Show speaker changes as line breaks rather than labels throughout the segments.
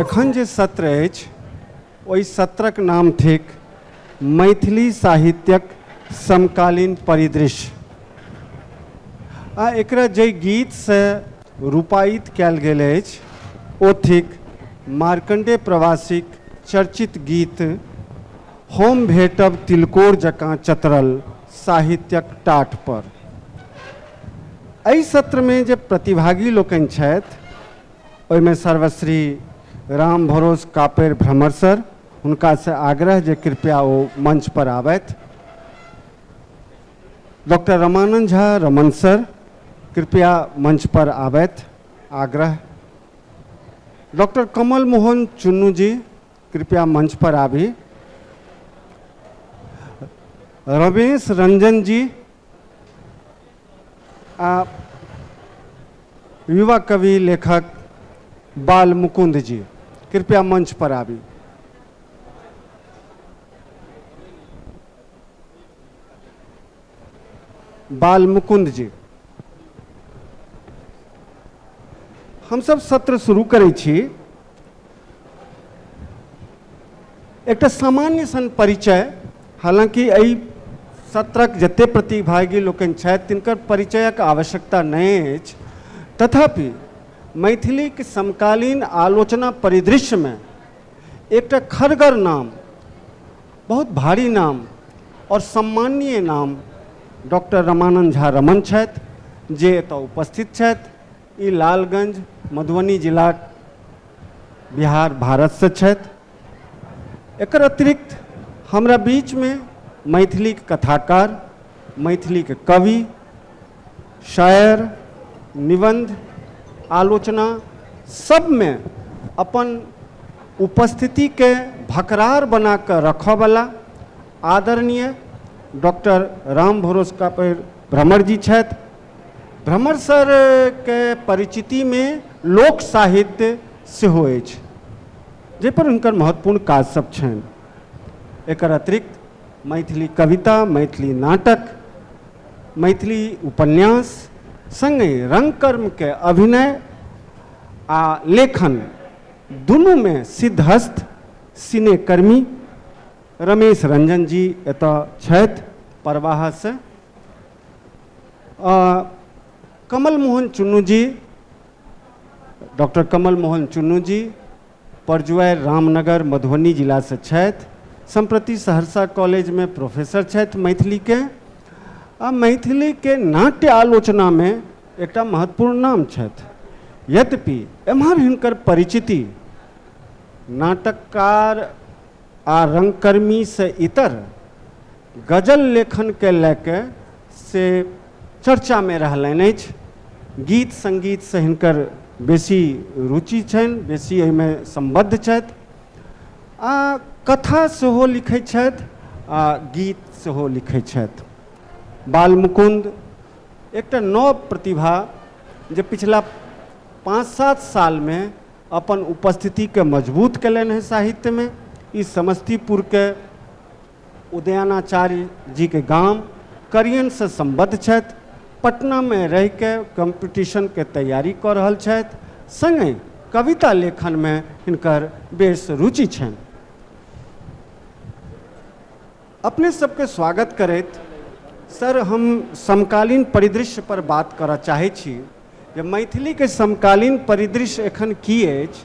एखन जे सत्र अछि ओहि सत्रक नाम थिक मैथिली साहित्यक समकालीन परिदृश्य आ एकरा जाहि गीतसँ रूपायित कयल गेल अछि ओ थिक मार्कण्डेय प्रवासीक चर्चित गीत हम भेटब तिलकोर जकाँ चतरल साहित्यक टाट पर। एहि सत्र मे जे प्रतिभागी लोकनि छथि ओहि मे सर्वश्री रामभरोस कापेर भ्रमर सर, हुनका सँ आग्रह जे कृपया ओ मंच पर आबथि। डॉक्टर रमानंद झा रमन सर कृपया मंच पर आबैत आग्रह डॉक्टर कमल मोहन चुन्नू जी कृपया मंच पर आबी रमेश रंजन जी आ युवा कवि लेखक बाल मुकुंद जी कृपया मंच पर आबी बाल मुकुंद जी हमसब सत्र शुरू करै छी एकटा सामान्य सन परिचय हालांकि एहि सत्रक जते प्रतिभागी लोकनि छथि तिनकर परिचयक आवश्यकता नहि अछि तथापि मैथिलीक समकालीन आलोचना परिदृश्यमे एकटा खड़गर नाम बहुत भारी नाम आओर सम्माननीय नाम डॉक्टर रमानन्द झा रमण छथि जे एतऽ उपस्थित छथि ई लालगञ्ज मधुबनी जिलाक बिहार भारतसँ छथि एकर अतिरिक्त हमरा बीचमे मैथिलीक कथाकार मैथिलीक कवि शायर निबन्ध आलोचना सबमे अपन उपस्थितिके भकरार बनाकऽ रखऽवला आदरणीय डॉक्टर राम भरोस का भ्रमर जी छथि भ्रमर सरके परिचितिमे लोक साहित्य सेहो अछि जाहिपर हुनकर महत्वपूर्ण काज सब छनि एकर अतिरिक्त मैथिली कविता मैथिली नाटक मैथिली उपन्यास सङ्गे रङ्गकर्मके अभिनय आ लेखन दुनूमे सिद्धहस्त सिनेकर्मी रमेश रंजन जी एतऽ छथि प्रवाहसँ कमल मोहन चुन्नू जी डॉक्टर कमल मोहन चुन्नू जी परजुआरि रामनगर मधुबनी जिलासँ छथि सम्प्रति सहरसा कॉलेजमे प्रोफेसर छथि मैथिलीके आ मैथिलीके नाट्य आलोचनामे एकटा महत्वपूर्ण नाम छथि यद्यपि एम्हर हिनकर परिचिति नाटककार आ रङ्गकर्मीसँ इतर गजल लेखनके लए कऽ से चर्चामे रहलनि अछि गीत सङ्गीतसँ हिनकर बेसी रुचि छनि बेसी एहिमे सम्बद्ध छथि आ कथा सेहो लिखै छथि आ गीत सेहो लिखै छथि बालमुकुन्द एकटा नव प्रतिभा जे पिछला पाँच सात सालमे अपन उपस्थितिके मजबूत कयलनि हेँ साहित्यमे ई समस्तीपुरके उदयनाचार्य जी के गाम करियन से संबद्ध छथि पटना में रह के कॉम्पिटिशन के तैयारी कऽ रहल छथि संगे कविता लेखन में हिनकर बेस रुचि छनि अपने सबके स्वागत करैत सर हम समकालीन परिदृश्य पर बात करऽ चाहै छी जे मैथिली के समकालीन परिदृश्य एखन की अछि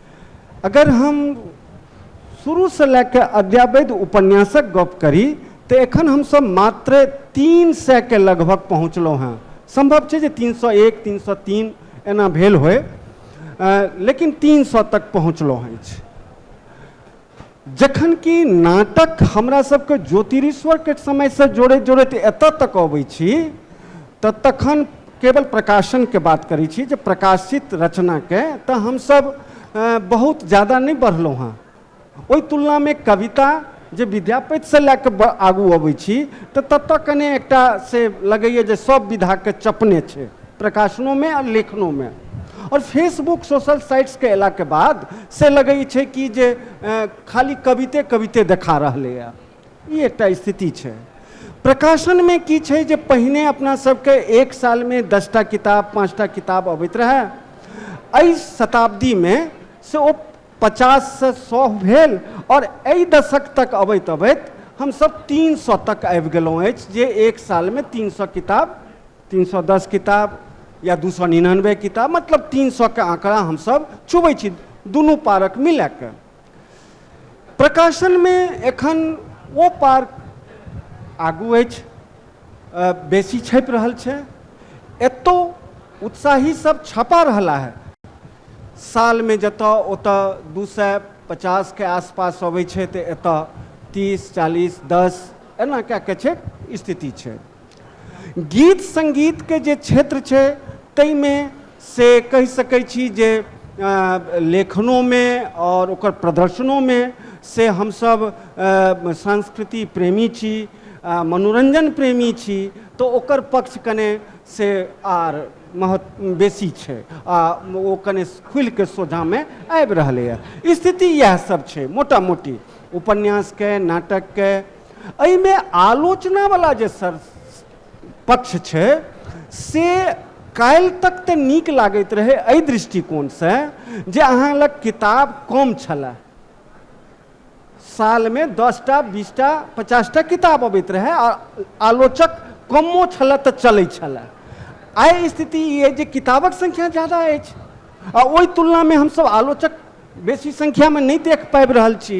अगर हम शुरूसँ लए कऽ अद्यावैध उपन्यासक गप करी तऽ एखन हमसभ मात्र तीन सएके लगभग पहुँचलहुँ हेँ सम्भव छै जे तीन सए एक तीन सए तीन एना भेल होय लेकिन तीन सए तक पहुँचलहुँ अछि जखन कि नाटक हमरा सबके ज्योतिरीश्वरके समयसँ जोड़ैत जोड़ैत एतऽ तक अबै छी तऽ तखन केवल प्रकाशनके बात करै छी जे प्रकाशित रचनाके तऽ हमसब बहुत जादा नहि बढ़लहुँ हँ ओहि तुलनामे कविता जे विद्यापतिसँ लऽ कऽ आगू अबै छी तऽ ततऽ कने एकटा से लगैए जे सब विधाके चपने छै प्रकाशनों में और लेखनों में और फेसबुक सोशल साइट्स के अयला के बाद से लगै छै कि जे अ, खाली कविते कविते देखा रहलै है ई एकटा स्थिति छै प्रकाशन में की छै जे पहिने अपना सबके एक साल में दसटा किताब पाँचटा किताब अबैत रहए एहि शताब्दी में से ओ पचास से सौ भेल और एहि दशक तक अबैत अबैत हमसब तीन सौ तक आबि गेलहुँ अछि जे एक साल में तीन सौ किताब तीन सए दस किताब या दू सए निनानबे किताब मतलब तीन सएके आँकड़ा हमसभ छुबै छी दुनू पारक मिला कऽ प्रकाशनमे एखन ओ पार आगू अछि बेसी छपि रहल छै एतौ उत्साही सब छपा रहला है सालमे जतऽ ओतऽ दू सए पचासके आसपास अबै छै तऽ एतऽ तीस चालीस दस एना कए कऽ छै स्थिति छै गीत संगीत के जे क्षेत्र छै ताहि मे से कहि सकै छी जे लेखनो मे आओर ओकर प्रदर्शनो मे से हमसब संस्कृति प्रेमी छी मनोरंजन प्रेमी छी तऽ ओकर पक्ष कने से आर महत्व बेसी छै आ ओ कने खुलि कऽ सोझाँ मे आबि रहलैया स्थिति इएह सब छै मोटा मोटी उपन्यास के नाटक के एहिमे आलोचनावला जे सर पक्ष छै से काल्हि तक तऽ नीक लागैत रहै एहि दृष्टिकोणसँ जे अहाँ लग किताब कम छलए सालमे दस टा बीस टा पचास टा किताब अबैत रहए आ आलोचक कमो छलए तऽ चलैत छलए आइ स्थिति ई अछि जे किताबक संख्या ज्यादा अछि आ ओहि तुलनामे हमसभ आलोचक बेसी संख्यामे नहि देख पाबि रहल छी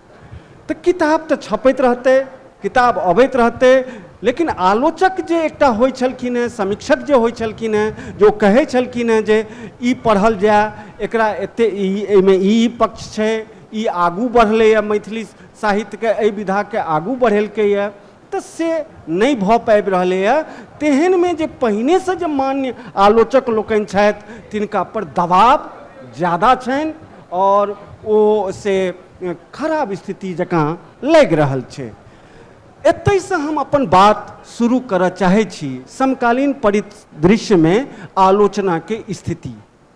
तऽ किताब तऽ छपैत रहतै किताब अबैत रहतै लेकिन आलोचक जे एकटा होइ छलखिन हेँ समीक्षक जे होइ छलखिन हेँ जे ओ कहै छलखिन हेँ जे ई पढ़ल जाए एकरा एते ई एहिमे ई पक्ष छै ई आगू बढ़लैए मैथिली साहित्यके एहि विधाके आगू बढ़ेलकैए तऽ से नहि भऽ पाबि रहलैए तेहनमे जे पहिनेसँ जे मान्य आलोचक लोकनि छथि तिनकापर दबाव ज्यादा छनि आओर ओ से खराब स्थिति जकाँ लागि रहल छै एतहिसँ हम अपन बात शुरू करऽ चाहै छी समकालीन परिदृश्यमे आलोचनाके स्थिति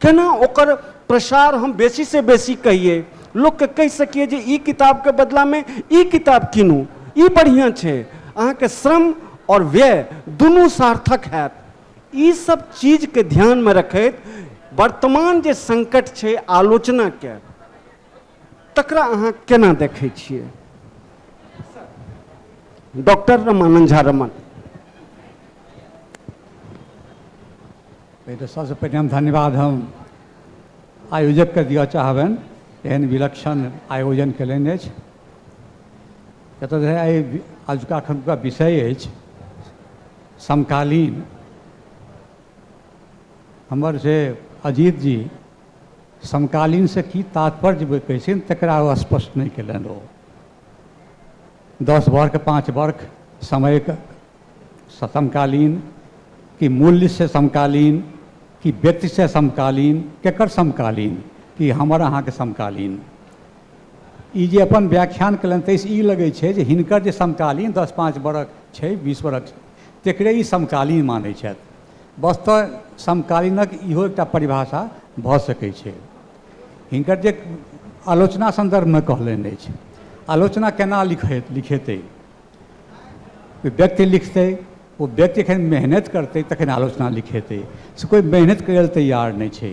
केना ओकर प्रसार हम बेसी से बेसी कहिए लोक के कहि सकिए जे ई किताब के बदला में ई किताब कीनू ई बढ़िया छै अहाँ के श्रम और व्यय दुनू सार्थक हैत ई सब चीज के ध्यान में रखैत वर्तमान जे संकट छै आलोचना के तकरा अहाँ केना देखै छियै डॉक्टर रमानंद झा रमन पहिले सबसँ पहिने हम धन्यवाद हम आयोजकके दिअ चाहबनि एहन विलक्षण आयोजन कयलनि अछि एतऽ जे एहि अजुका एखनुका विषय अछि समकालीन हमर से अजीत जी समकालीनसँ की तात्पर्य जे कहै छै तकरा ओ स्पष्ट नहि केलनि ओ दस वर्ष पाँच वर्ष समयके समकालीन कि मूल्यसँ समकालीन कि व्यक्तिसँ समकालीन केकर समकालीन कि हमर अहाँके समकालीन ई जे अपन व्याख्यान केलनि ताहिसँ ई लगै छै जे हिनकर जे समकालीन दस पाँच वर्ष छै बीस वर्ष तकरे ई समकालीन मानै छथि वस्तुतः समकालीनक इहो एकटा परिभाषा भऽ सकै छै हिनकर जे आलोचना सन्दर्भमे कहलनि अछि आलोचना केना लिखै लिखेतै व्यक्ति लिखतै ओ व्यक्ति एखन मेहनति करतै तखन आलोचना लिखेतै से कोइ मेहनति करै लए तैयार नहि छै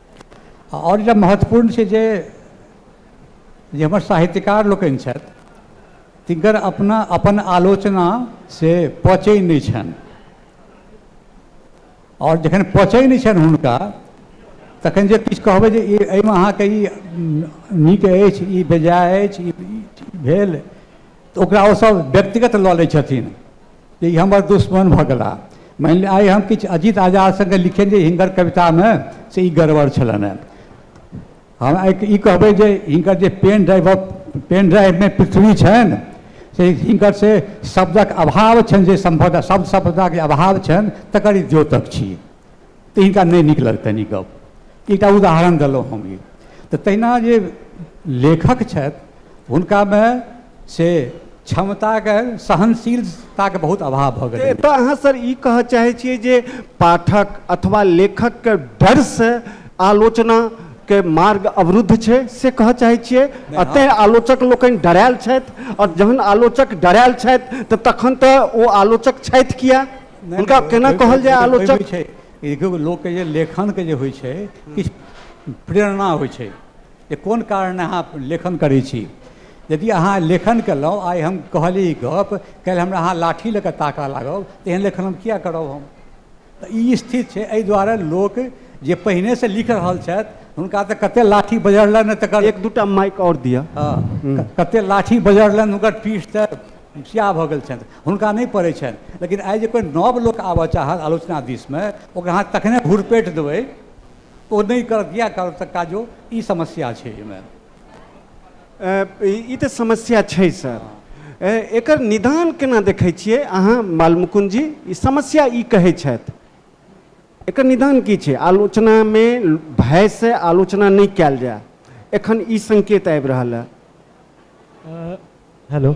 आओर एकटा महत्वपूर्ण छै जे जे हमर साहित्यकार लोकनि छथि तिनकर अपना अपन आलोचना से पचै नहि छनि आओर जखन पचै नहि छनि हुनका तखन जे किछु कहबै जे ई एहिमे अहाँके ई नीक अछि ई बेजाय अछि ई भेल तऽ ओकरा ओसभ व्यक्तिगत लऽ लै छथिन जे ई हमर दुश्मन भऽ गेला मानि लिअ आइ हम किछु अजीत आजाद सङ्गे लिखैत जे हिनकर कवितामे से ई गड़बड़ छलनि हेँ हम आइ ई कहबै जे हिनकर जे पेन ड्राइव पेन ड्राइवमे पृथ्वी छनि से हिनकर से शब्दक अभाव छनि जे सम्भवतः शब्द सम्पदाके अभाव छनि तकर ई द्योतक छी तऽ हिनका नहि नीक लगतनि ई गप एकटा उदाहरण देलहुँ हम ई तऽ तहिना जे लेखक छथि हुनकामे से क्षमताके सहनशीलताके बहुत अभाव भऽ गेलै एतऽ अहाँ सर ई कहऽ चाहै छियै जे पाठक अथवा लेखकके डरसँ आलोचना के मार्ग अवरुद्ध छै से कहऽ चाहै छियै एतहि आलोचक लोकनि डरायल छथि आओर जहन आलोचक डरायल छथि तऽ तखन तऽ ओ आलोचक छथि किया नहि, हुनका नहि, केना ओहि- कहल ओहि- जाय ओहि- आलोचक? ओहिमे छै ई देखियौ लोकके जे लेखनके जे होइ छै किछु प्रेरणा होइ छै जे कोन कारण अहाँ लेखन करै छी यदि अहाँ लेखन केलहुँ आइ हम कहली ई गप काल्हि हमरा अहाँ लाठी लऽ कऽ ताकऽ लागब तऽ एहन लेखन हम किया करब हम तऽ ई स्थिति छै एहि दुआरे लोक जे पहिनेसँ लिख रहल छथि हुनका तऽ कतेक लाठी बजरलनि तकर एक दूटा माइक और दिया हँ, क- कते लाठी बजरलनि हुनकर पीठ तऽ सिया भऽ गेल छनि हुनका नहि पड़ै छनि लेकिन आइ जे कोइ नव लोक आबऽ चाहत आलोचना दिसमे ओकरा अहाँ तखने घुरपेट देबै ओ नहि कर किया करत काजो ई समस्या छै एहिमे ई तऽ समस्या छै सर एकर निदान केना देखै छियै अहाँ बालमुकुंद जी ई समस्या ई कहै छथि एकर निदान की छै आलोचनामे भयसँ आलोचना नहि कयल जाय एखन ई संकेत आबि रहल है हेलो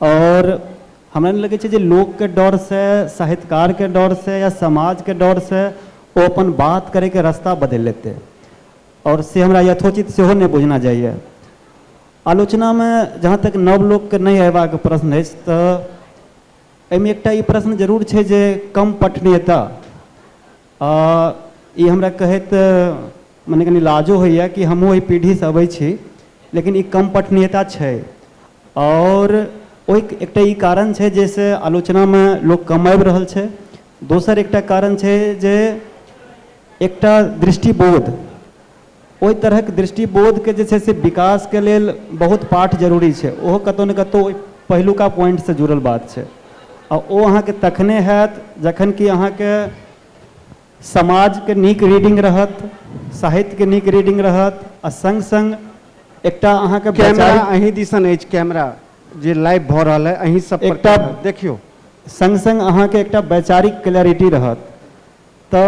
आओर हमरा नहि लगै छै जे लोकके डरसँ साहित्यकारके डरसँ या समाजके डरसँ ओ अपन बात करैके रस्ता बदलि लेतै आओर से हमरा यथोचित सेहो नहि बुझना जाइए आलोचनामे जहाँ तक नव लोकके नहि अएबाक प्रश्न अछि तऽ एहिमे एकटा ई प्रश्न जरूर छै जे कम पठनीयता आ ई हमरा कहैत मने कनि लाजो होइए कि हमहूँ ओहि पीढ़ीसँ अबै छी लेकिन ई कम पठनीयता छै आओर ओहि एकटा ई कारण छै जाहिसँ आलोचनामे लोक कम आबि रहल छै दोसर एकटा कारण छै जे एकटा दृष्टिबोध ओहि तरहक दृष्टिबोधके जे छै से विकासके लेल बहुत पाठ जरूरी छै ओहो कतहु ने कतहु ओहि पहिलुका पॉइंटसँ जुड़ल बात छै आ ओ अहाँके तखने हैत जखन कि अहाँके समाजके नीक रीडिंग रहत साहित्यके नीक रीडिंग रहत आ सङ्ग सङ्ग एकटा अहाँके कैमरा अहीं दिसन अछि कैमरा जे लाइव भऽ रहल है अहीं सब एकटा देखियौ संग संग अहाँके एकटा वैचारिक क्लैरिटी रहत तँ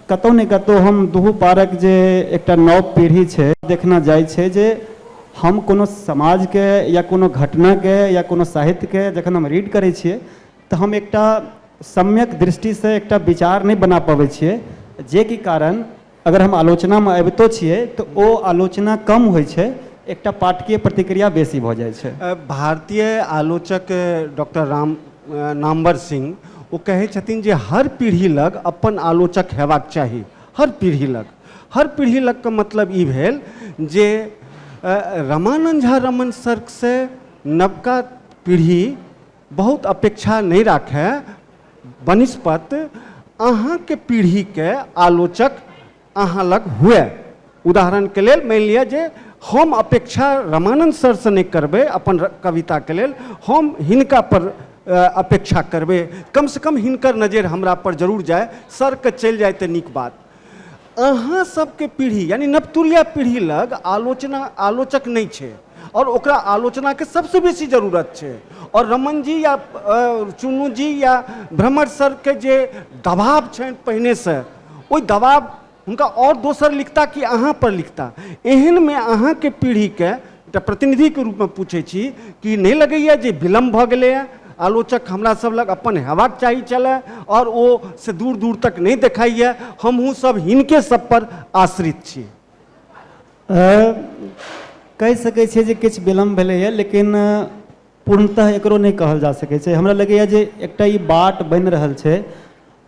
कतौ ने कतौ हम दुहू पारक जे एकटा नव पीढ़ी छै देखना जाइ छै जे हम कोनो समाजके या कोनो घटनाके या कोनो साहित्यके जखन हम रीड करै छियै तँ हम एकटा सम्यक दृष्टिसँ एकटा विचार नहि बना पबै छियै जे कि कारण अगर हम आलोचनामे अबितो छियै तँ ओ आलोचना कम होइ छै एकटा पाठकीय प्रतिक्रिया बेसी भऽ जाइ छै भारतीय आलोचक डॉक्टर राम नामवर सिंह ओ कहै छथिन जे हर पीढ़ी लग अपन आलोचक हेबाक चाही हर पीढ़ी लग हर पीढ़ी लग के मतलब ई भेल जे रमानंद झा रमन सर्कसँ नवका पीढ़ी बहुत अपेक्षा नहि राखय बनस्पत अहाँके पीढ़ीके आलोचक अहाँ लग हुए उदाहरणके लेल मानि लिअ जे हम अपेक्षा रमानन्द सरसँ नहि करबै अपन कविताके लेल हम हिनकापर अपेक्षा करबै कमसँ कम हिनकर नजरि हमरापर जरूर जाय सरके चलि जाय तऽ नीक बात अहाँ सबके पीढ़ी यानी नवतुरिया पीढ़ी लग आलोचना आलोचक नहि छै आओर ओकरा आलोचनाके सबसँ बेसी जरूरत छै आओर रमन जी या चुनू जी या भ्रमर सरके जे दबाव छनि पहिनेसँ ओहि दबाब हुनका आओर दोसर लिखता कि अहाँ पर लिखता एहन मे अहाँ के पीढ़ी के एकटा प्रतिनिधि के रूप में पूछे छी कि नहि लगैया जे विलम्ब भऽ गेलैया आलोचक हमरा सब लग अपन हेबाक चाही चले और ओ से दूर दूर तक नहि देखाइए हमहूँ सब हिनके सब पर आश्रित छी कहि सकैत छियै जे किछु विलम्ब भेलैए लेकिन पूर्णतः एकरो नहि कहल जा सकै छै हमरा लगैए जे एकटा ई बाट बनि रहल छै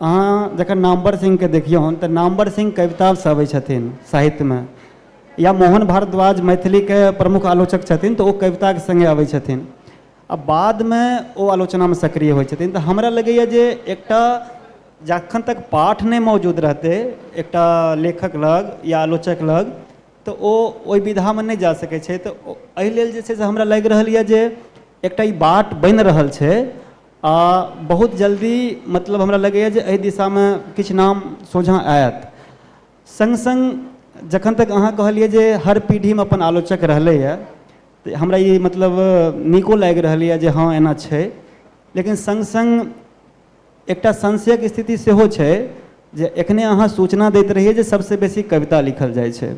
अहाँ जखन नामवर सिंहके देखियौन तऽ नामवर सिंह कवितासँ अबै छथिन साहित्यमे या मोहन भारद्वाज मैथिलीके प्रमुख आलोचक छथिन तऽ ओ कविताके सङ्गे अबै छथिन आ बादमे ओ आलोचनामे सक्रिय होइ छथिन तऽ हमरा लगैए जे एकटा जखन तक पाठ नहि मौजूद रहतै एकटा लेखक लग या आलोचक लग तऽ ओ ओहि विधामे नहि जा सकै छै तऽ एहि लेल जे छै से हमरा लागि रहल यऽ जे एकटा ई बाट बनि रहल छै आ बहुत जल्दी मतलब हमरा लगैया जे एहि दिशामे किछु नाम सोझाँ आयत सङ्ग सङ्ग जखन तक अहाँ कहलियै जे हर पीढ़ीमे अपन आलोचक रहलै यऽ तऽ हमरा ई मतलब नीको लागि रहल यऽ जे हँ एना छै लेकिन सङ्ग सङ्ग एकटा संशयक स्थिति सेहो छै जे एखने अहाँ सूचना दैत रहियै जे सभसँ बेसी कविता लिखल जाइ छै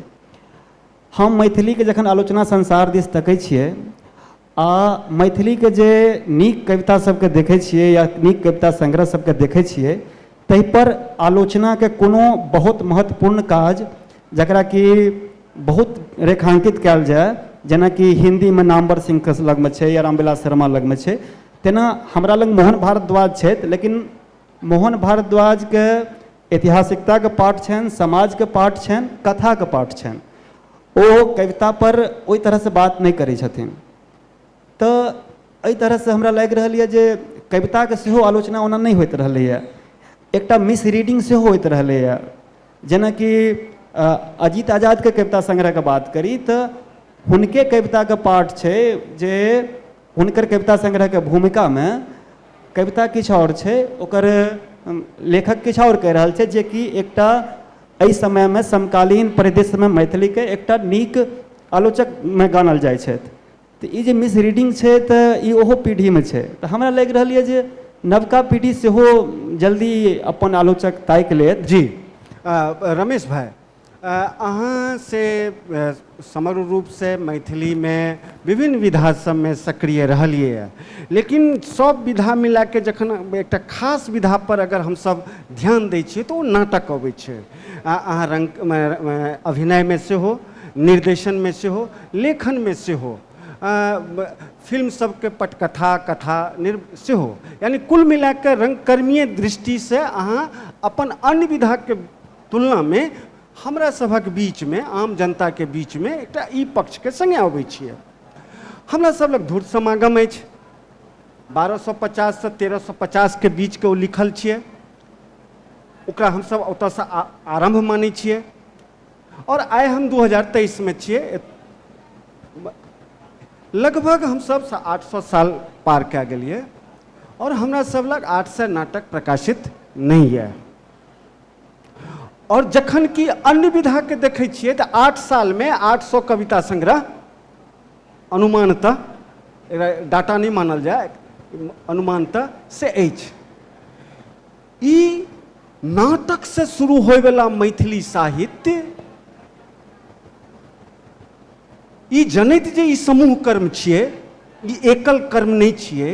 हम मैथिलीके जखन आलोचना संसार दिस तकै छियै आ मैथिलीके जे नीक कविता सभके देखै छियै या नीक कविता संग्रह सभके देखै छियै ताहि पर आलोचनाके कोनो बहुत महत्वपूर्ण काज जकरा कि बहुत रेखांकित कयल जाय जेनाकि हिन्दीमे नामवर सिंहके लगमे छै या रामविलास शर्मा लगमे छै तेना हमरा लग मोहन भारद्वाज छथि लेकिन मोहन भारद्वाजके ऐतिहासिकताके पाठ छनि समाजके पाठ छनि कथाके पाठ छनि ओ कवितापर ओहि तरहसँ बात नहि करै छथिन तऽ एहि तरहसँ हमरा लागि रहल अइ जे कविताके सेहो आलोचना ओना नहि होइत रहलैए एकटा मिसरीडिङ्ग सेहो होइत रहलैए जेनाकि अजीत आजादके कविता संग्रहके बात करी तऽ हुनके कविताके पाठ छै जे हुनकर कविता संग्रहके भूमिकामे कविता किछु आओर छै ओकर लेखक किछु आओर कहि रहल छै जेकि एकटा एहि समयमे समकालीन परिदृश्यमे मैथिलीके एकटा नीक आलोचकमे गानल जाइ छथि तऽ ई जे मिसरीडिंग छै तऽ ई ओहो पीढ़ीमे छै तऽ हमरा लागि रहल यऽ जे नवका पीढ़ी सेहो जल्दी अपन आलोचक ताकि लेत जी आ, रमेश भाई अहाँ से समग्र रूपसँ मैथिलीमे विभिन्न विधा सभमे सक्रिय रहलियैए लेकिन सभ विधा मिलाके जखन एकटा खास विधापर अगर हमसभ ध्यान दै छियै तऽ ओ नाटक अबै छै आ अहाँ रङ्ग अभिनयमे सेहो निर्देशनमे सेहो लेखनमे सेहो फिल्म सभके पटकथा कथा निर् सेहो यानि कुल मिलाके रङ्गकर्मीय दृष्टिसँ अहाँ अपन अन्य विधाके तुलनामे हमरा सभक बीचमे आम जनताके बीचमे एकटा ई पक्षके सङ्गे अबै छियै हमरा सभ लग धूर्त समागम अछि बारह सए पचाससँ तेरह सए पचासके बीचके ओ लिखल छियै ओकरा हमसभ ओतयसँ आ- आरम्भ मानै छियै आओर आइ हम दू हजार तेइसमे छियै एत- लगभग हमसभ सा- आठ सए साल पार कए गेलियै आओर हमरा सभ लग आठ सए नाटक प्रकाशित नहि यए आओर जखन कि अन्य विधाके देखै छियै तऽ आठ सालमे आठ सए कविता संग्रह अनुमानतः एकरा डाटा नहि मानल जाय अनुमानतः से अछि ई नाटकसँ शुरू होयवला मैथिली साहित्य ई जनैत जे ई समूह कर्म छियै ई एकल कर्म नहि छियै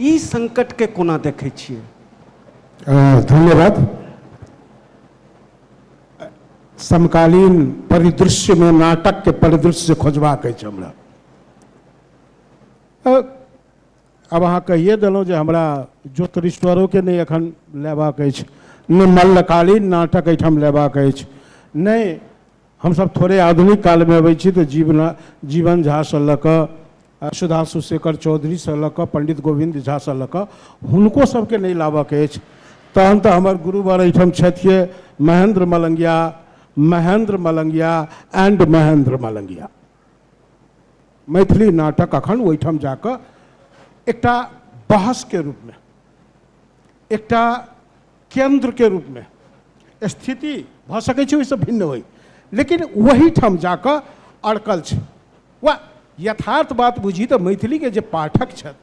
ई संकटके कोना देखै छियै धन्यवाद समकालीन परिदृश्यमे नाटकके परिदृश्य जे खोजबाक अछि हमरा आब अहाँ कहिए देलहुँ जे हमरा ज्योतिरीश्वरोके नहि एखन लेबाक अछि नहि मल्लकालीन नाटक एहिठाम लेबाक अछि नहि हमसभ थोड़े आधुनिक कालमे अबै छी तऽ जीवना जीवन झासँ लऽ कऽ सुधांशु शेखर चौधरीसँ लऽ कऽ पण्डित गोविन्द झासँ लऽ कऽ हुनको सभके नहि लाबऽके अछि तहन तऽ हमर गुरुवर एहिठाम छथिए महेन्द्र मलंगिया महेन्द्र मलंगिया एंड महेन्द्र मलंगिया मैथिली नाटक अखन ओहिठाम जाकऽ एकटा बहसके रूपमे एकटा केन्द्रके रूपमे स्थिति भऽ सकै छै ओहिसँ भिन्न होइ लेकिन ओहीठाम जा कऽ अड़कल छै वा यथार्थ बात बुझी तऽ मैथिलीके जे पाठक छथि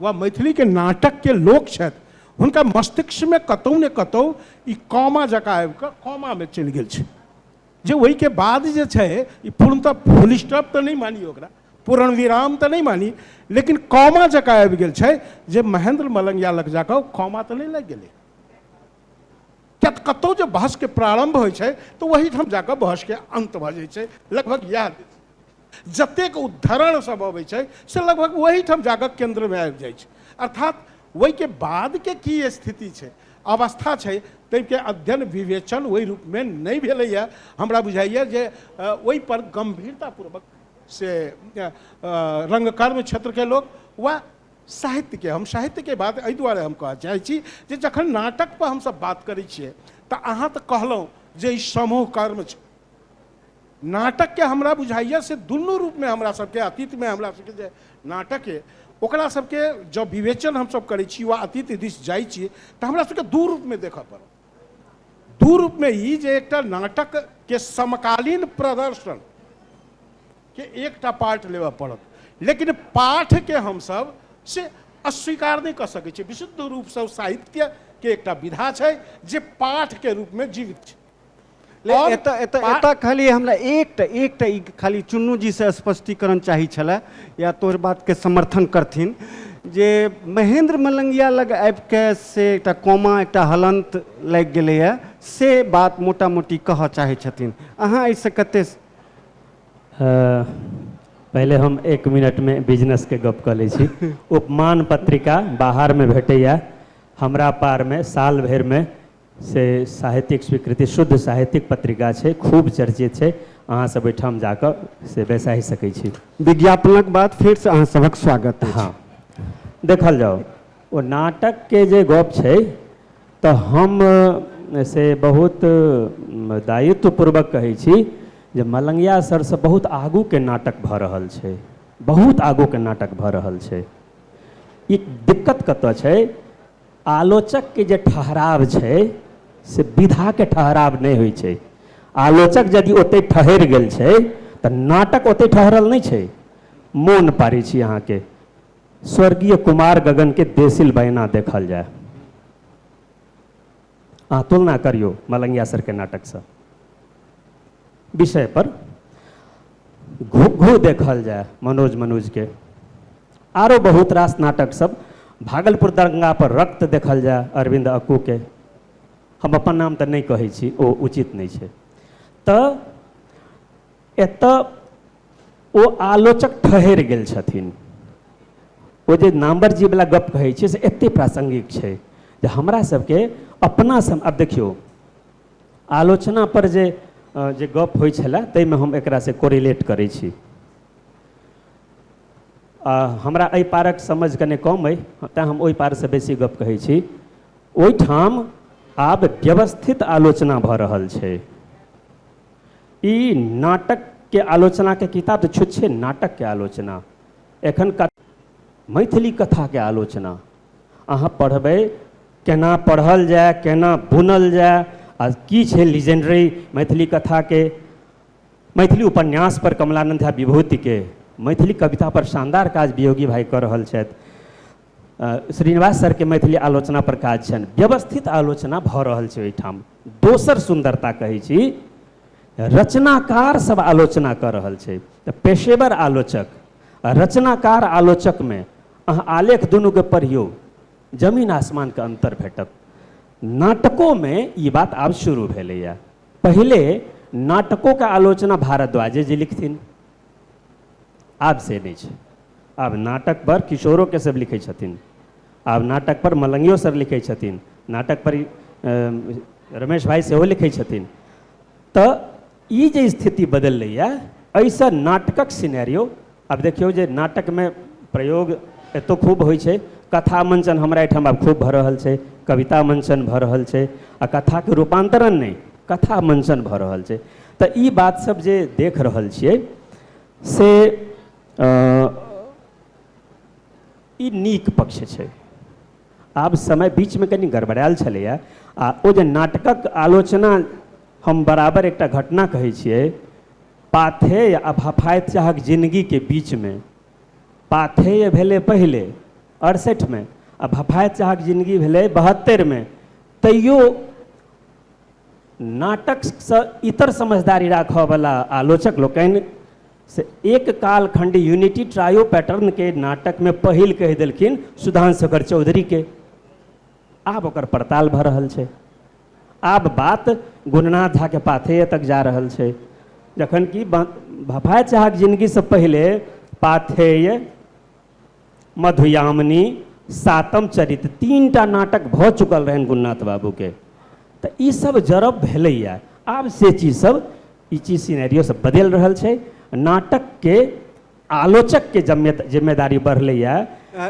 वा मैथिलीके नाटकके लोक छथि हुनका मस्तिष्कमे कतहु ने कतहु ई कौमा जकाँ आबि कऽ कौमामे चलि गेल छै जे ओहिके बाद जे छै ई पूर्णतः फुल स्टॉप तऽ नहि मानी ओकरा पूर्ण विराम तऽ नहि मानी लेकिन कौमा जकाँ आबि गेल छै जे महेंद्र मलंगिया लग जाकऽ कौमा तऽ नहि लागि गेलै किया तऽ कतहु जे बहसके प्रारम्भ होइ छै तऽ ओहीठाम जाकऽ बहसके अन्त भऽ जाइ छै लगभग इएह जतेक उद्धरण सब अबै छै से लगभग ओहीठाम जाकऽ केन्द्रमे आबि जाइ छै अर्थात ओहिके बादके की स्थिति छै अवस्था छै ताहिके अध्ययन विवेचन ओहि रूपमे नहि भेलैए हमरा बुझाइए जे ओहिपर गम्भीरतापूर्वक से रङ्गकर्म क्षेत्रके लोक वा साहित्यके हम साहित्यके बात एहि दुआरे हम कहऽ चाहै छी जे जखन नाटकपर हमसभ बात करै छियै तऽ अहाँ तऽ कहलहुँ जे ई समूह कर्म छै नाटकके हमरा बुझाइए से दुनू रूपमे हमरा सभके अतीतमे हमरा सभके जे नाटक अइ ओकरा सभके जँ विवेचन हमसभ करै छी वा अतीत दिस जाइ छी तऽ हमरा सभके दू रूपमे देखऽ पड़त दू रूपमे ई जे एकटा नाटकके समकालीन प्रदर्शन के एकटा पार्ट लेबऽ पड़त लेकिन पाठके हमसभ से अस्वीकार नहि कऽ सकै छियै विशुद्ध रूपसँ साहित्यके एकटा विधा छै जे पाठके रूपमे जीवित छै लेकिन एतऽ एतऽ एतऽ खाली हमरा एकटा एकटा ई खाली चुन्नूजीसँ स्पष्टीकरण चाही छलए या तोहर बातके समर्थन करथिन जे महेन्द्र मलंगिया लग आबिके से एकटा कोमा एकटा हलन्त लागि गेलैए से बात मोटा मोटी कहऽ चाहै छथिन अहाँ एहिसँ कते पहिले हम एक मिनटमे बिजनेसके गप कऽ लै छी उपमान पत्रिका बाहरमे भेटैए हमरा पारमे साल भरिमे से साहित्यिक स्वीकृति शुद्ध साहित्यिक पत्रिका छै खूब चर्चित छै अहाँ सब ओहिठाम जाकऽ से बैसाहि सकै छी विज्ञापनक बाद फेर से अहाँ सभक स्वागत अछि। हँ देखल जाउ ओ नाटकके जे गप छै तऽ हम अ, से बहुत अ, दायित्वपूर्वक कहै छी जे मलंगिया सरसँ बहुत आगूके नाटक भऽ रहल छै बहुत आगूके नाटक भऽ रहल छै ई दिक्कत कतऽ छै आलोचकके जे ठहराव छै से विधाके ठहराव नहि होइ छै आलोचक यदि ओतहि ठहरि गेल छै तऽ नाटक ओतहि ठहरल नहि छै मोन पारै छी अहाँके स्वर्गीय कुमार गगनके देसिल बहिना देखल जाय अहाँ तुलना करियौ मलंगिया सरके नाटकसँ विषयपर घू घू देखल जाय मनोज मनोजके आरो बहुत रास नाटक सब भागलपुर दंगा पर रक्त देखल जाय अरविंद अक्कू के हम अपन नाम तऽ नहि कहै छी ओ उचित नहि छै तऽ एतऽ ओ आलोचक ठहरि गेल छथिन ओ जे नाम्बरजीवला गप्प कहै छियै से एतेक प्रासङ्गिक छै जे हमरा सभके अपना सम आब देखियौ आलोचनापर जे अ, जे गप्प होइ छलए ताहिमे हम एकरासँ कोरिलेट करै छी आ, हमरा एहि पारक समझ कने कम अइ तैँ हम ओहि पारसँ बेसी गप्प कहै छी ओहिठाम आब व्यवस्थित आलोचना भऽ रहल छै ई नाटक के आलोचना के किताब तऽ छुत छै नाटक के आलोचना एखन कत, मैथिली कथा के आलोचना अहाँ पढ़बै केना पढ़ल जाय केना बुनल जाय आ की छै लीजेंडरी मैथिली कथा के मैथिली उपन्यास पर कमलानन्द झा विभूति के मैथिली कविता पर शानदार काज वियोगी भाई कऽ रहल छथि श्रीनिवास सरके मैथिली आलोचना पर काज छनि व्यवस्थित आलोचना भऽ रहल छै ओहिठाम दोसर सुन्दरता कहै छी रचनाकार सब आलोचना कऽ रहल छै तऽ पेशेवर आलोचक आ रचनाकार आलोचकमे अहाँ आलेख दुनूके पढ़ियौ जमीन आसमानके अन्तर भेटत नाटकोमे ई बात आब शुरू भेलैए पहिले नाटकोके आलोचना भारद्वाजे जी लिखथिन आब से नहि छै आब नाटकपर किशोरो केशव लिखै छथिन आब नाटकपर मलंगियो सर लिखै छथिन नाटकपर रमेश भाई सेहो लिखै छथिन तऽ ई जे स्थिति बदललैए एहिसँ नाटकक सिनेरियो आब देखियौ जे नाटकमे प्रयोग एतौ खूब होइ छै कथा मंचन हमरा एहिठाम आब खूब भऽ रहल छै कविता मंचन भऽ रहल छै आ कथाके रूपान्तरण नहि कथा मंचन भऽ रहल छै तऽ ई बात सब जे देख रहल छियै से अ, ई नीक पक्ष छै आब समय बीचमे कनि गड़बड़ायल छलैए आ ओ जे नाटकक आलोचना हम बराबर एकटा घटना कहै छियै पाथेय आ भफाइत चाहक जिनगीके बीचमे पाथेय भेलै पहिले अड़सठिमे आ भफाइत चाहक जिनगी भेलै बहत्तरिमे तैयो नाटकसँ इतर समझदारी राखयवला आलोचक लोकनि से एक कालखण्ड यूनिटी ट्रायो पैटर्नके नाटकमे पहिल कहि देलखिन सुधांशकर चौधरीके आब ओकर पड़ताल भऽ रहल छै आब बात गुणनाथ झाके पाथेय तक जा रहल छै जखन कि भफाय चाहक जिनगीसँ पहिले पाथेय मधुयामिनी सातम चरित्र तीन टा नाटक भऽ चुकल रहनि गुणनाथ बाबूके तऽ ई सब जरब भेलैए आब से चीज सब ई चीज सिनेरियो सब बदलि रहल छै नाटकके आलोचकके जमे जिम्मेदारी बढ़लैए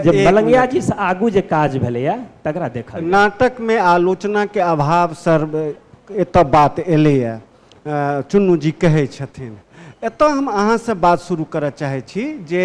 जे एक मलंगिया जी से आगू जे काज भेलैए तकरा देखल जाय। नाटक में आलोचना के अभाव सर एतऽ बात एलैए अ, चुन्नू जी कहै छथिन एतऽ हम अहाँसँ बात शुरू करऽ चाहै छी जे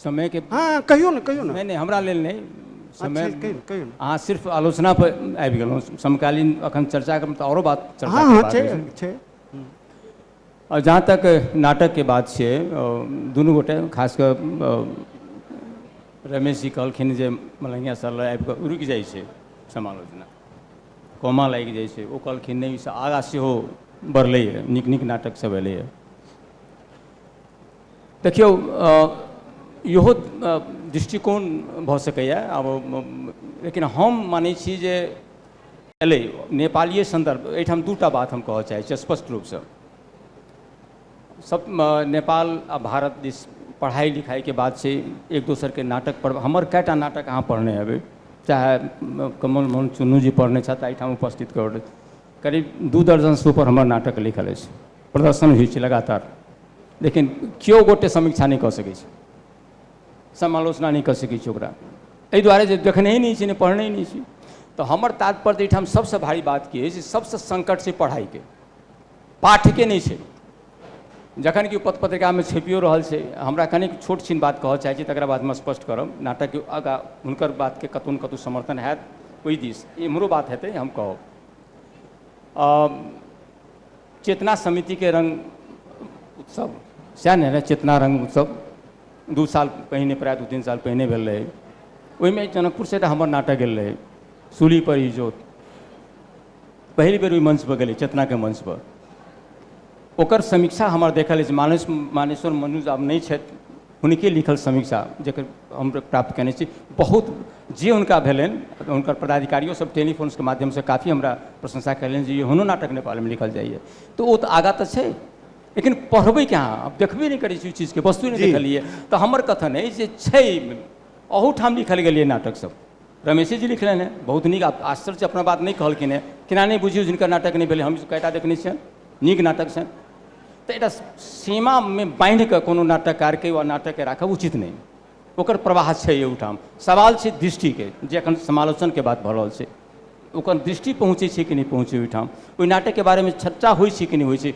समय के हँ कहियौ ने कहियौ ने नहि नहि हमरा लेल नहि समय अच्छा, कहियौ कहियौ ने अहाँ सिर्फ आलोचना पर आबि गेलहुँ समकालीन अखन चर्चा करब तऽ आओरो बात चर्चा हँ हँ करबाक छै अछि। छै आओर जहाँ तक नाटकके बात छै अ, दुनू गोटे खास कऽ अ, रमेश जी कहलखिन जे मलंगिया सर लग आबि कऽ रुकि जाइ छै समालोचना कोमा लागि जाइ छै ओ कहलखिन नहि ओहिसँ आगाँ सेहो बढ़लैए नीक नीक नाटकसभ एलैए देखियौ इहो दृष्टिकोण भऽ सकैए आब लेकिन हम मानै छी जे एलै नेपालीय सन्दर्भ एहिठाम दूटा बात हम कहऽ चाहै छी स्पष्ट रूपसँ सब नेपाल आ भारत दिस पढ़ाइ लिखाइके बात छै एक दोसरके नाटक पर हमर कएटा नाटक अहाँ पढ़ने हेबै चाहे कमल मोहन चुन्नू जी पढ़ने छथि एहिठाम उपस्थित करैत करीब दू दर्जनसँ ऊपर हमर नाटक लिखल अछि प्रदर्शन होइ छै लगातार लेकिन केओ गोटे समीक्षा नहि कऽ सकै छै समालोचना नहि कऽ सकै छै ओकरा एहि दुआरे जे देखने ही नहि छी नहि पढ़ने ही नहि छी तऽ हमर तात्पर्य एहिठाम सभसँ भारी बात की अछि सभसँ संकट छै पढ़ाइके पाठके नहि छै जखन कि पत्र पत्रिकामे छपियो रहल छै हमरा कनिक छोट छिन बात कहऽ चाहै छी तकरा बाद हम स्पष्ट करब नाटकके आगाँ हुनकर बातके कतहु ने कतहु समर्थन हैत ओहि दिस एम्हरो बात हेतै हम कहब आ चेतना समितिके रङ्ग उत्सव सएह ने रहै चेतना रङ्ग उत्सव दू साल पहिने प्रायः दू तीन साल पहिने भेल रहै ओहिमे जनकपुरसँ एकटा हमर नाटक गेल रहै सूली पर इजोत पहिल बेर ओहि मंचपर गेलै चेतनाके मंचपर ओकर समीक्षा हमर देखल अछि मानस मानेश्वर मनुज आब नहि छथि हुनके लिखल समीक्षा जकर हम प्राप्त कयने छी बहुत जे हुनका भेलनि हुनकर पदाधिकारियो सब टेलीफोन्सके माध्यमसँ काफी हमरा प्रशंसा कयलनि जे एहनो नाटक नेपालमे लिखल जाइए तऽ ओ तऽ आगाँ तऽ छै लेकिन पढ़बै कहाँ आब देखबे नहि करै छी ओहि चीजके वस्तु नहि जी। देखलियै तऽ हमर कथन अछि जे छै अहूठाम लिखल गेल यए नाटक सब रमेशे जी लिखलनि हेँ बहुत नीक आब आश्चर्य अपना बात नहि कहलखिन हेँ केना नहि बुझियौ जिनकर नाटक नहि भेलै हम कएटा देखने छियनि नीक नाटक छनि तऽ एकटा सीमामे बान्हि कऽ कोनो नाटककारके वा नाटकके राखब उचित नहि ओकर प्रवाह छै ओहिठाम सवाल छै दृष्टिके जे एखन समालोचनके बात भऽ रहल छै ओकर दृष्टि पहुँचै छै कि नहि पहुँचै ओहिठाम ओहि नाटकके बारेमे चर्चा होइ छै कि नहि होइ छै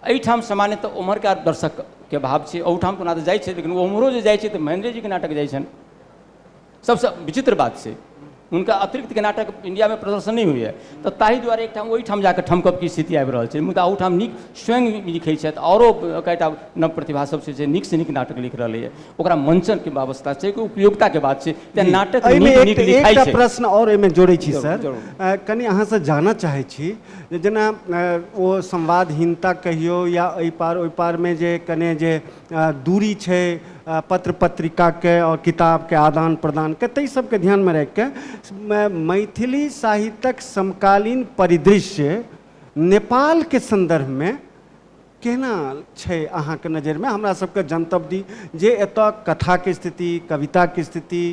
एहिठाम सामान्यतः ओम्हरका दर्शकके भाव छै ओहिठाम तऽ ओना तऽ जाइ छै लेकिन ओम्हरो जे जाइ छै तऽ महेन्द्रेजीके नाटक जाइ छनि सबसँ विचित्र बात छै हुनका अतिरिक्तके नाटक इन्डियामे प्रदर्शन नहि होइए तऽ ताहि दुआरे एकठाम ओहिठाम जाकऽ ठमकबके स्थिति आबि रहल छै मुदा ओहिठाम नीक स्वयं लिखै छथि आओरो कएटा नव प्रतिभा सब छै जे नीकसँ नीक नाटक लिख रहलैए ओकरा मंचनके व्यवस्था छै कि उपयोगिताके बात छै तेँ नाटक एहिमे नीक एक- नीक लिखाइ एकटा छै प्रश्न और एहिमे जोड़ै छी जरूर, सर जरूर। अ, कनि अहाँसँ जानऽ चाहै छी जे जेना अ, ओ संवादहीनता कहियौ या एहि पार ओहि पारमे जे कने जे दूरी छै पत्र पत्रिकाके आओर किताबके आदान प्रदानके ताहि सबके ध्यानमे राखिके मैथिली साहित्यक समकालीन परिदृश्य नेपालके सन्दर्भमे केना छै अहाँके नजरिमे हमरा सबके जनतब दी जे एतऽ कथाके स्थिति कविताके स्थिति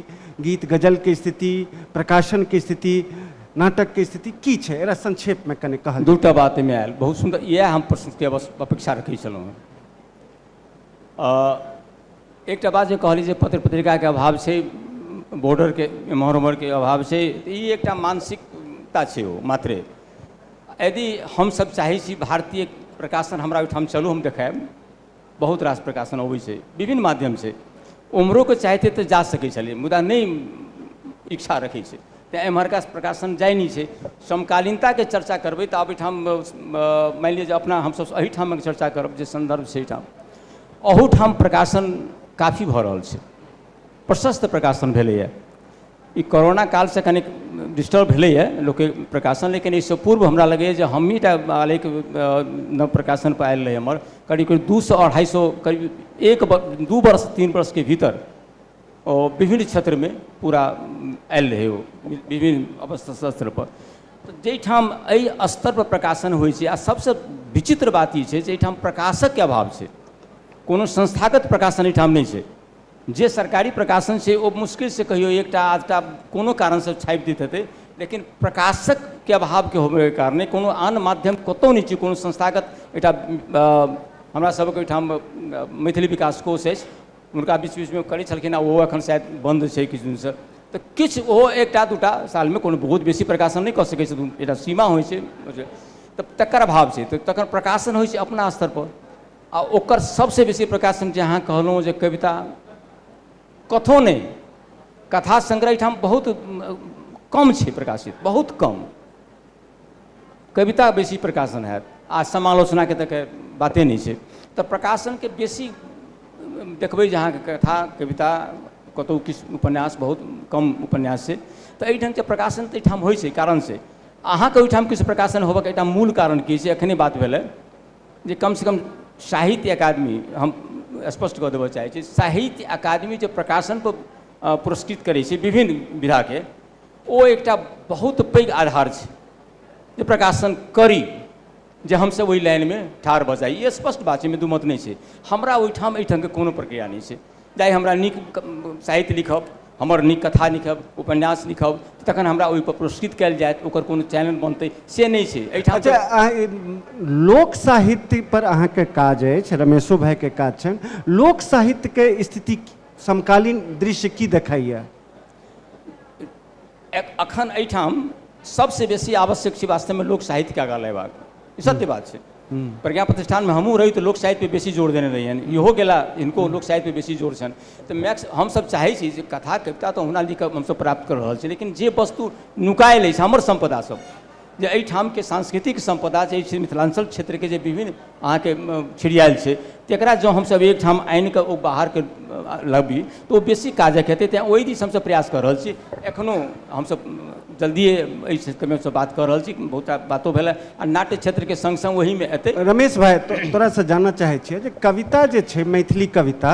गीत गजलके स्थिति प्रकाशनके स्थिति नाटकके स्थिति की छै एकरा संक्षेपमे कनि कहल जाय। दूटा बात एहिमे आयल बहुत सुन्दर इएह हम प्रस्तुतिके अवश्य अपेक्षा रखै छलहुँ हँ एकटा बात जे कहली जे पत्र पत्रिकाके अभाव छै बॉर्डरके एम्हर ओम्हरके अभाव छै तऽ ई एकटा मानसिकता छै ओ मात्रे यदि हमसभ चाहै छी भारतीय प्रकाशन हमरा ओहिठाम चलू हम देखायब बहुत रास प्रकाशन अबै छै विभिन्न माध्यमसँ उम्हरोके चाहतै तऽ जा सकै छलै मुदा नहि इच्छा रखै छै तैँ एम्हरका प्रकाशन जाइ नहि छै समकालीनताके चर्चा करबै तऽ आब एहिठाम मानि लिअ जे अपना हमसभ एहिठामक चर्चा करब जे सन्दर्भ छै एहिठाम अहूठाम प्रकाशन काफी भऽ रहल छै प्रशस्त प्रकाशन भेलैए ई कोरोना कालसँ कनि डिस्टर्ब भेलैए लोकके प्रकाशन लेकिन एहिसँ पूर्व हमरा लगैए जे हमही टा आलेख नव प्रकाशनपर आयल रहै हमर करीब करीब दू सए अढ़ाइ सए करीब एक दू वर्ष तीन वर्षके भीतर ओ विभिन्न क्षेत्रमे पूरा आयल रहै ओ विभिन्न अवसर पर तऽ जाहिठाम एहि स्तर पर प्रकाशन होइ छै आ सभसँ विचित्र बात ई छै जे एहिठाम प्रकाशक के अभाव छै कोनो संस्थागत प्रकाशन एहिठाम नहि छै जे सरकारी प्रकाशन छै ओ मुश्किल से कहियौ एकटा आधटा कोनो कारण सँ छापि दैत हेतै लेकिन प्रकाशक के अभाव के होबय के कारणे कोनो आन माध्यम कतौ नहि छै कोनो संस्थागत एकटा हमरा सभक ओहिठाम मैथिली विकास कोश अछि हुनका बीच बीचमे करै छलखिन आ ओहो एखन शायद बन्द छै किछु दिनसँ तऽ किछु ओहो एकटा दूटा सालमे कोनो बहुत बेसी प्रकाशन नहि कऽ सकै छथिन एकटा सीमा होइ छै बुझलियै? तऽ तकर अभाव छै तऽ तखन प्रकाशन होइ छै अपना स्तर पर आ ओकर सभसँ बेसी प्रकाशन जे अहाँ कहलहुँ जे कविता कथो नहि कथा संग्रह एहिठाम बहुत कम छै प्रकाशित बहुत कम कविता बेसी प्रकाशन हैत आ समालोचनाके तऽ के बाते नहि छै तऽ प्रकाशनके बेसी देखबै जे अहाँके कथा कविता कतहु किछु उपन्यास बहुत कम उपन्यास छै तऽ एहि ढङ्गके प्रकाशन तऽ एहिठाम होइ छै कारण से अहाँके ओहिठाम किछु प्रकाशन होबऽके एकटा मूल कारण की छै एखने बात भेलै जे कमसँ कम साहित्य अकादमी हम स्पष्ट कऽ देबऽ चाहै छी साहित्य अकादमी जे प्रकाशनपर पुरस्कृत करै छै विभिन्न विधाके ओ एकटा बहुत पैघ आधार छै जे प्रकाशन करी जे हमसभ ओहि लाइनमे ठाढ़ भऽ जाइ ई स्पष्ट बात छै एहिमे दू मत नहि छै हमरा ओहिठाम एहिठामके कोनो प्रक्रिया नहि छै जाहि हमरा नीक साहित्य लिखब हमर नीक कथा लिखब उपन्यास लिखब तखन हमरा ओहिपर पुरस्कृत कयल जायत ओकर कोनो चैनल बनतै से नहि छै एहिठाम अच्छा अहाँ ई लोक साहित्य पर अहाँके काज अछि रमेशो भाइके काज छनि लोक साहित्यके स्थिति समकालीन दृश्य की देखाइए अखन एहिठाम सबसँ बेसी आवश्यक छै वास्तवमे लोक साहित्यके आगाँ लेबाक ई सत्य बात छै प्रज्ञा प्रतिष्ठानमे हमहूँ रही तऽ लोक साहित्यपर बेसी जोर देने रहियनि इहो गेला हिनको लोक साहित्यपर बेसी जोर छनि तऽ मैक्स हमसभ चाहै छी जे कथा कविता तऽ ओहुना लिखब हमसभ प्राप्त कऽ रहल छी लेकिन जे वस्तु नुकायल अछि हमर सम्पदासभ जे एहिठामके सांस्कृतिक सम्पदा जे छै मिथिलाञ्चल क्षेत्रके जे विभिन्न अहाँके छिड़ियाएल छै तकरा जँ हमसब एकठाम आनिकऽ ओ बाहरके लबी तऽ ओ बेसी काजके हेतै तेँ ओहि दिस हमसब प्रयास कऽ रहल छी एखनो हमसब जल्दिए एहि क्षेत्रमे हमसब बात कऽ रहल छी बहुत रास बातो भेलै आओर नाट्य क्षेत्रके सङ्ग सङ्ग ओहिमे हेतै रमेश भाइ तोरासँ जानऽ चाहै छिअ जे कविता जे छै मैथिली कविता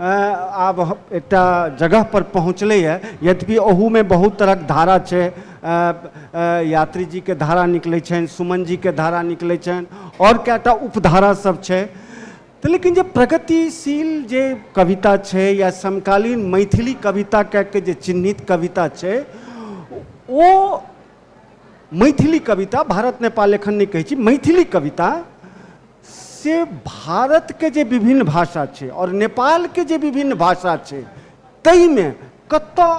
आब एकटा जगह पर पहुँचलैए यद्यपि ओहूमे बहुत तरहक धारा छै यात्री जीके धारा निकलै छनि सुमन जीके धारा निकलै छनि आओर कएटा उपधारा सब छै तऽ लेकिन जे प्रगतिशील जे कविता छै या समकालीन मैथिली कविता कए के जे चिन्हित कविता छै ओ मैथिली कविता भारत नेपाल एखन नहि कहै छी मैथिली कविता से भारतके जे विभिन्न भाषा छै आओर नेपालके जे विभिन्न भाषा छै ताहिमे कतऽ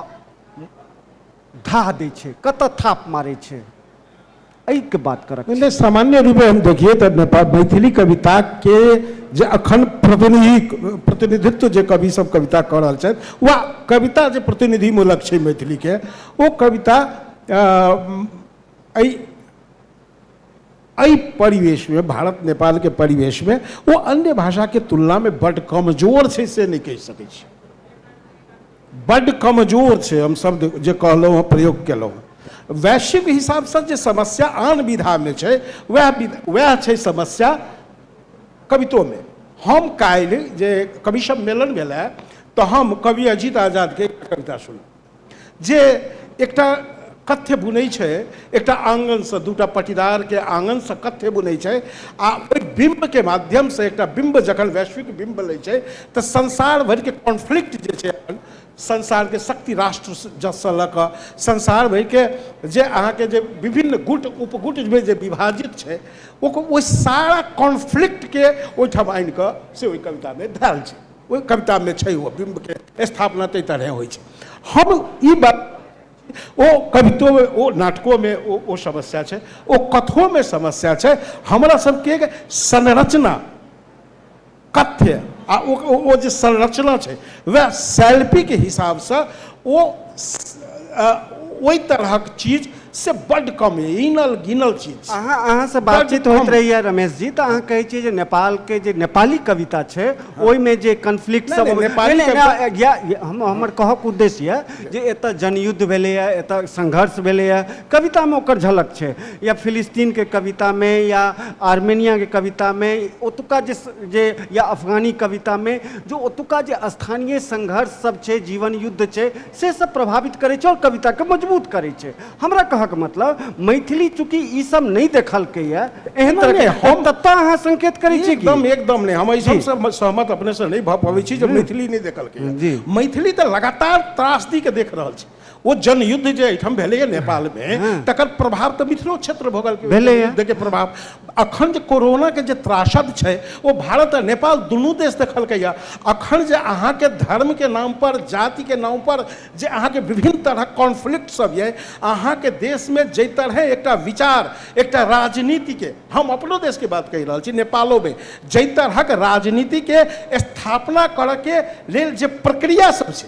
धाह दै छै कतऽ थाप मारै छै एहिके बात करक नहि सामान्य रूपे हम देखिए तऽ नेपाल मैथिली कविताके जे अखन प्रतिनिधि प्रतिनिधित्व जे कवि सब कविता कऽ रहल छथि वा कविता जे प्रतिनिधिमूलक छै मैथिलीके ओ कविता एहि एहि परिवेशमे भारत नेपालके परिवेशमे ओ अन्य भाषाके तुलनामे बड्ड कमजोर छै से नहि कहि सकै छी बड्ड कमजोर छै हम शब्द जे कहलहुँ हँ प्रयोग केलहुँ हँ वैश्विक हिसाबसँ जे समस्या आन विधामे छै वएह वएह छै समस्या कवितोमे हम काल्हि जे कवि सम्मेलन भेलै तऽ हम कवि अजीत आजादके कविता सुनलहुँ जे एकटा कथ्य बुनै छै एकटा आङ्गनसँ दूटा पटीदारके आङ्गनसँ कथ्य बुनै छै आ ओहि बिम्बके माध्यमसँ एकटा बिम्ब जखन वैश्विक बिम्ब लै छै तऽ संसार भरिके कॉन्फ्लिक्ट जे छै अपन संसारके शक्ति राष्ट्र जससँ लऽ कऽ संसार भरिके जे अहाँके जे विभिन्न गुट उपगुटमे जे विभाजित छै ओकर ओहि सारा कॉन्फ्लिक्टके ओहिठाम आनि कऽ से ओहि कवितामे धएल छै ओहि कवितामे छै ओ बिम्बके स्थापना ताहि तरहे होइ छै हम ई बात ओ कवितोमे ओ नाटकोमे ओ ओ समस्या छै ओ कथोमे समस्या छै हमरा सबके संरचना कथ्य आ ओ ओ जे संरचना छै वएह शैल्पीके हिसाबसँ ओ ओहि तरहक चीज से बड्ड कम यऽ इनल गिनल चीज अहाँ अहाँसँ बातचीत होइत रहैया रमेश जी तऽ अहाँ कहै छियै जे नेपालके जे नेपाली कविता छै ओहिमे जे कन्फ्लिक्ट सब हम हमर कहक उद्देश्य यऽ जे एतऽ जनयुद्ध भेलैए एतऽ संघर्ष भेलैए कवितामे ओकर झलक छै या फिलिस्तीनके कवितामे या आर्मेनियाके कवितामे ओतुका जे जे या अफगानी कवितामे जे ओतुका जे स्थानीय संघर्ष सब छै जीवन युद्ध छै से सब प्रभावित करै छै आओर कविता के मजबूत करै छै हमरा कहऽ के मतलब मैथिली चूँकि ई सब नहि देखलकै या एहन नहि, तरह के नहि, हम- तत्ता अहाँ संकेत करै छी कि एकदम एकदम नहि हम एहि जी। सबसँ म- सहमत अपने से नहि भऽ पबै छी जे मैथिली नहि देखलकै जी। हँ। मैथिली तऽ लगातार त्रासदी के देख रहल छै ओ जनयुद्ध जे एहिठाम भेलैए नेपालमे तकर प्रभाव तऽ मिथिलो क्षेत्र भोगल भेलैए। के प्रभाव अखन जे कोरोनाके जे त्रासद छै ओ भारत आ नेपाल दुनू देश देखलकैए अखन जे अहाँके धर्मके नामपर जातिके नामपर जे अहाँके विभिन्न तरहक कॉन्फ्लिक्ट सब यऽ अहाँके देशमे जाहि तरहे एकटा विचार एकटा राजनीतिके हम अपनो देशके बात कहि रहल छी नेपालोमे जाहि तरहक राजनीतिके स्थापना करऽके लेल जे प्रक्रिया सब छै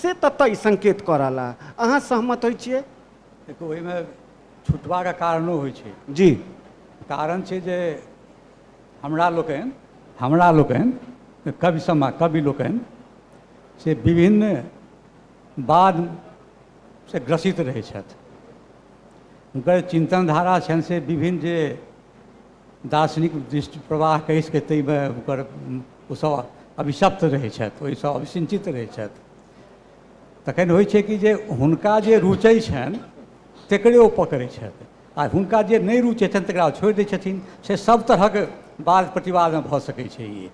से ततय संकेत कऽ रहल हँ अहाँ सहमत होइ छियै देखियौ ओहिमे छुटबाके कारणो होइ छै जी कारण छै जे हमरा लोकनि हमरा लोकनि कवि समा कवि लोकनि से विभिन्न वादसँ ग्रसित रहै छथि हुनकर चिन्तन धारा छनि से विभिन्न जे दार्शनिक दृष्टि प्रवाह कहि सकै ताहिमे हुनकर ओसभ अभिशप्त रहै छथि ओहिसँ अभिसिञ्चित रहै छथि तखन होइ छै कि जे हुनका जे रुचै छनि तकरे ओ पकड़ै छथि आ हुनका जे नहि रुचै छनि तकरा ओ छोड़ि दै छथिन से सभ तरहक वाद प्रतिवादमे भऽ सकै छै ई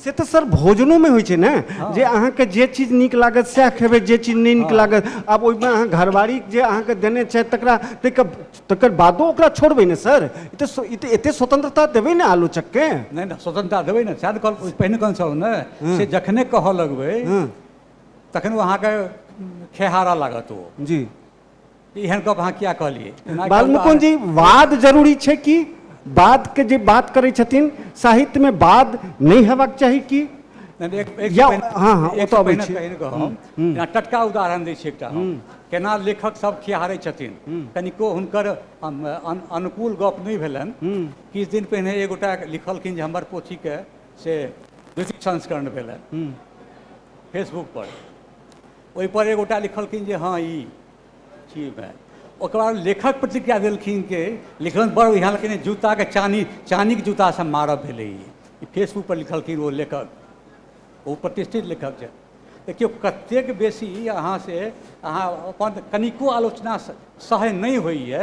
से तऽ सर भोजनोमे होइ छै ने जे अहाँके जे चीज नीक लागत सएह खेबै जे चीज नहि नीक लागत आब ओहिमे अहाँ घरवारी जे अहाँके देने छथि तकरा ताहिके तकर बादो ओकरा छोड़बै ने सर ई तऽ स्व- ई तऽ एतेक स्वतंत्रता देबै ने आलोचकके नहि नहि स्वतंत्रता देबै ने सएह ने कहल पहिने कहने छलहुँ ने से जखने कहऽ लगबै हँ तखन ओ अहाँके खेहारा लागत ओ जी ई एहन गप अहाँ किया कहलियै जेना एकटा बालमुकुंद जी वाद जरूरी छै कि वादके जे बात करै छथिन साहित्यमे वाद नहि हेबाक चाही कि नहि, एक- एक या- पहिने- हँ, हँ, एक ओतऽ अबै पहिने छी। कहिन कऽ हम जेना टटका उदाहरण दै छी एकटा हम केना लेखक सब खिहारै छथिन कनिको हुनकर अम, अन- अनुकूल गप नहि भेलनि किछु दिन पहिने एगोटा लिखलखिन जे हमर पोथीके से द्वितीय संस्करण भेलनि फेसबुक पर ओहिपर एक गोटा लिखलखिन जे हँ ई छी भाय ओकर बाद लेखक प्रतिक्रिया देलखिन कि लिखलनि बड़ बढ़िआँ लेकिन जूताके चानी चानीके जूतासँ मारब भेलै ई फेसबुकपर लिखलखिन ओ लेखक ओ प्रतिष्ठित लेखक छै देखियौ कतेक बेसी अहाँसँ अहाँ अपन कनिको आलोचना सहन नहि होइए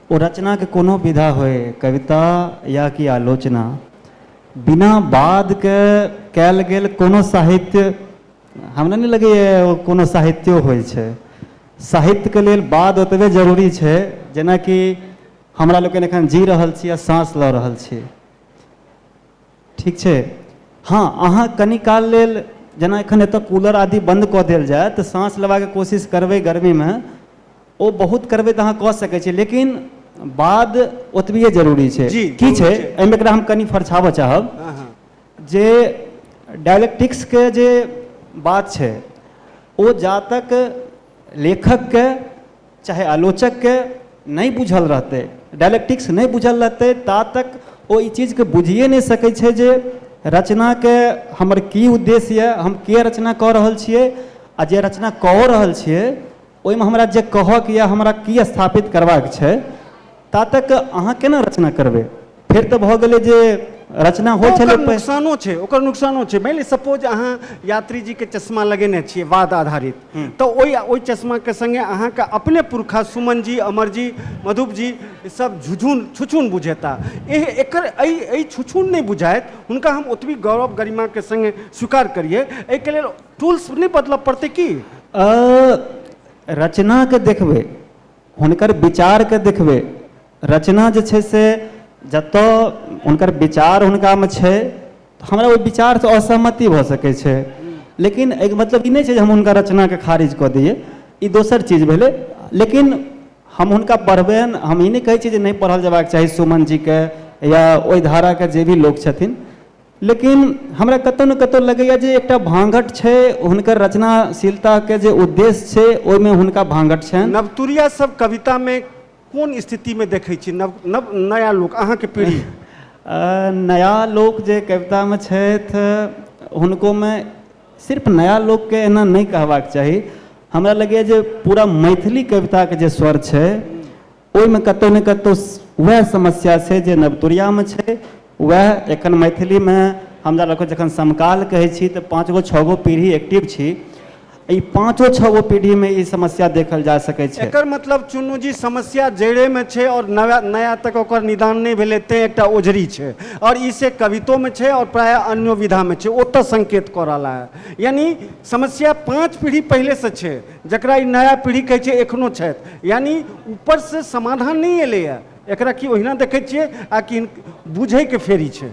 ओ रचनाके कोनो विधा होइ कविता या कि आलोचना बिना बादके कयल गेल कोनो साहित्य हमरा नहि लगैए ओ कोनो साहित्यो होइ छै साहित्यके लेल बाद ओतबे जरूरी छै जेनाकि हमरा लोकनि एखन जी रहल छी आ साँस लऽ रहल छी ठीक छै हँ अहाँ कनी काल लेल जेना एखन एतऽ कूलर आदि बन्द कऽ देल जाय तऽ साँस लेबाक कोशिश करबै गर्मीमे ओ बहुत करबै तऽ अहाँ कऽ सकै छियै लेकिन बाद ओतबिये जरूरी छै जी, की जरूरी छै छै। एहिमे एकरा हम कनि फरछाबऽ चाहब हँ हँ जे डायलेक्टिक्सके जे बात छै ओ जा तक लेखकके चाहे आलोचकके नहि बुझल रहतै डायलेक्टिक्स नहि बुझल रहतै ता तक ओ ई चीजके बुझिए नहि सकै छै जे रचनाके हमर की उद्देश्य यए हम किए रचना कऽ रहल छिए आओर जे रचना कऽ रहल छिए ओहिमे हमरा जे कहऽके यऽ हमरा की स्थापित करबाके छै ता तक अहाँ कोना रचना करबै फेर तऽ भऽ गेलै जे रचना होइ छलै ओकर पै- नुकसानो छै ओकर नुकसानो छै मानि लिअ सपोज अहाँ यात्री जी के चश्मा लगेने छियै वाद आधारित तऽ ओहि ओहि चश्मा के संगे अहाँके अपने पुरखा सुमन जी अमर जी मधुप जी ई सब झुझुन छुछुन बुझेता एह एकर एहि एहि छुछुन नहि बुझाइत हुनका हम ओतबी गौरव गरिमा के संगे स्वीकार करियै एहिके लेल टूल्स नहि बदलऽ पड़तै की अ, रचनाके देखबै हुनकर विचारके देखबै रचना जे छै से जतऽ हुनकर विचार हुनकामे छै तऽ हमरा ओहि विचारसँ असहमति भऽ सकै छै लेकिन एहिके मतलब ई नहि छै जे हम हुनका रचनाके खारिज कऽ दियै ई दोसर चीज भेलै लेकिन हम हुनका पढ़बनि हम ई नहि कहै छी जे नहि पढ़ल जयबाक चाही सुमन जीके या ओहि धाराके जे भी लोक छथिन लेकिन हमरा कतहु ने कतहु लगैए जे एकटा भाँगट छै हुनकर रचनाशीलताके जे उद्देश्य छै ओहिमे हुनका भाँगट छनि नवतुरिया सब कवितामे कोन स्थितिमे देखै छी नव नव नया लोक अहाँके पीढ़ी नया लोक जे कवितामे छथि हुनकोमे सिर्फ नया लोकके एना नहि कहबाक चाही हमरा लगैए जे पूरा मैथिली कविताके जे स्वर छै ओहिमे कतहु ने कतहु वएह समस्या छै जे नवतुरियामे छै वएह एखन मैथिलीमे हम जा लोकके जखन समकाल कहै छी तऽ पाँच गो छओ गो पीढ़ी एक्टिव छी ई पाँचो छओ गो पीढ़ीमे ई समस्या देखल जा सकै छै एकर मतलब चुन्नू जी समस्या जड़ेमे छै आओर नया नया तक ओकर निदान नहि भेलै तेँ एकटा ओझरी छै आओर ई से कवितोमे छै आओर प्रायः अन्यो विधामे छै ओतऽ संकेत कऽ रहला है यानी समस्या पाँच पीढ़ी पहिलेसँ छै जकरा ई नया पीढ़ी कहै छै एखनो छथि यानी ऊपरसँ समाधान नहि एलैए एकरा की ओहिना देखै छियै आ कि बुझैके फेरी छै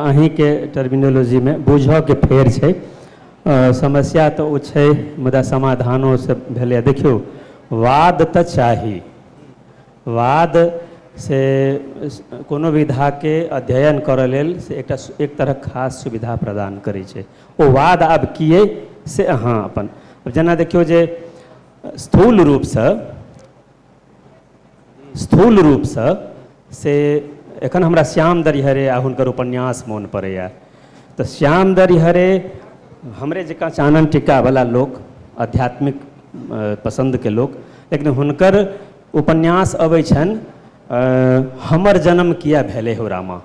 अहीँके टर्मिनोलॉजीमे बुझऽके फेर छै समस्या तऽ ओ छै मुदा समाधानो से भेलैए देखियौ वाद तऽ चाही वाद से कोनो विधाके अध्ययन करऽ लेल से एकटा एक तरहक खास सुविधा प्रदान करै छै ओ वाद आब की अइ से अहाँ अपन जेना देखियौ जे स्थूल रूपसँ स्थूल रूपसँ से एखन हमरा श्याम दरिहरे आ हुनकर उपन्यास मोन पड़ैए तऽ श्याम दरिहरे हमरे जकाँ चानन टिक्कावला लोक आध्यात्मिक पसन्दके लोक लेकिन हुनकर उपन्यास अबै छनि हमर जनम किए भेलै हौ रामा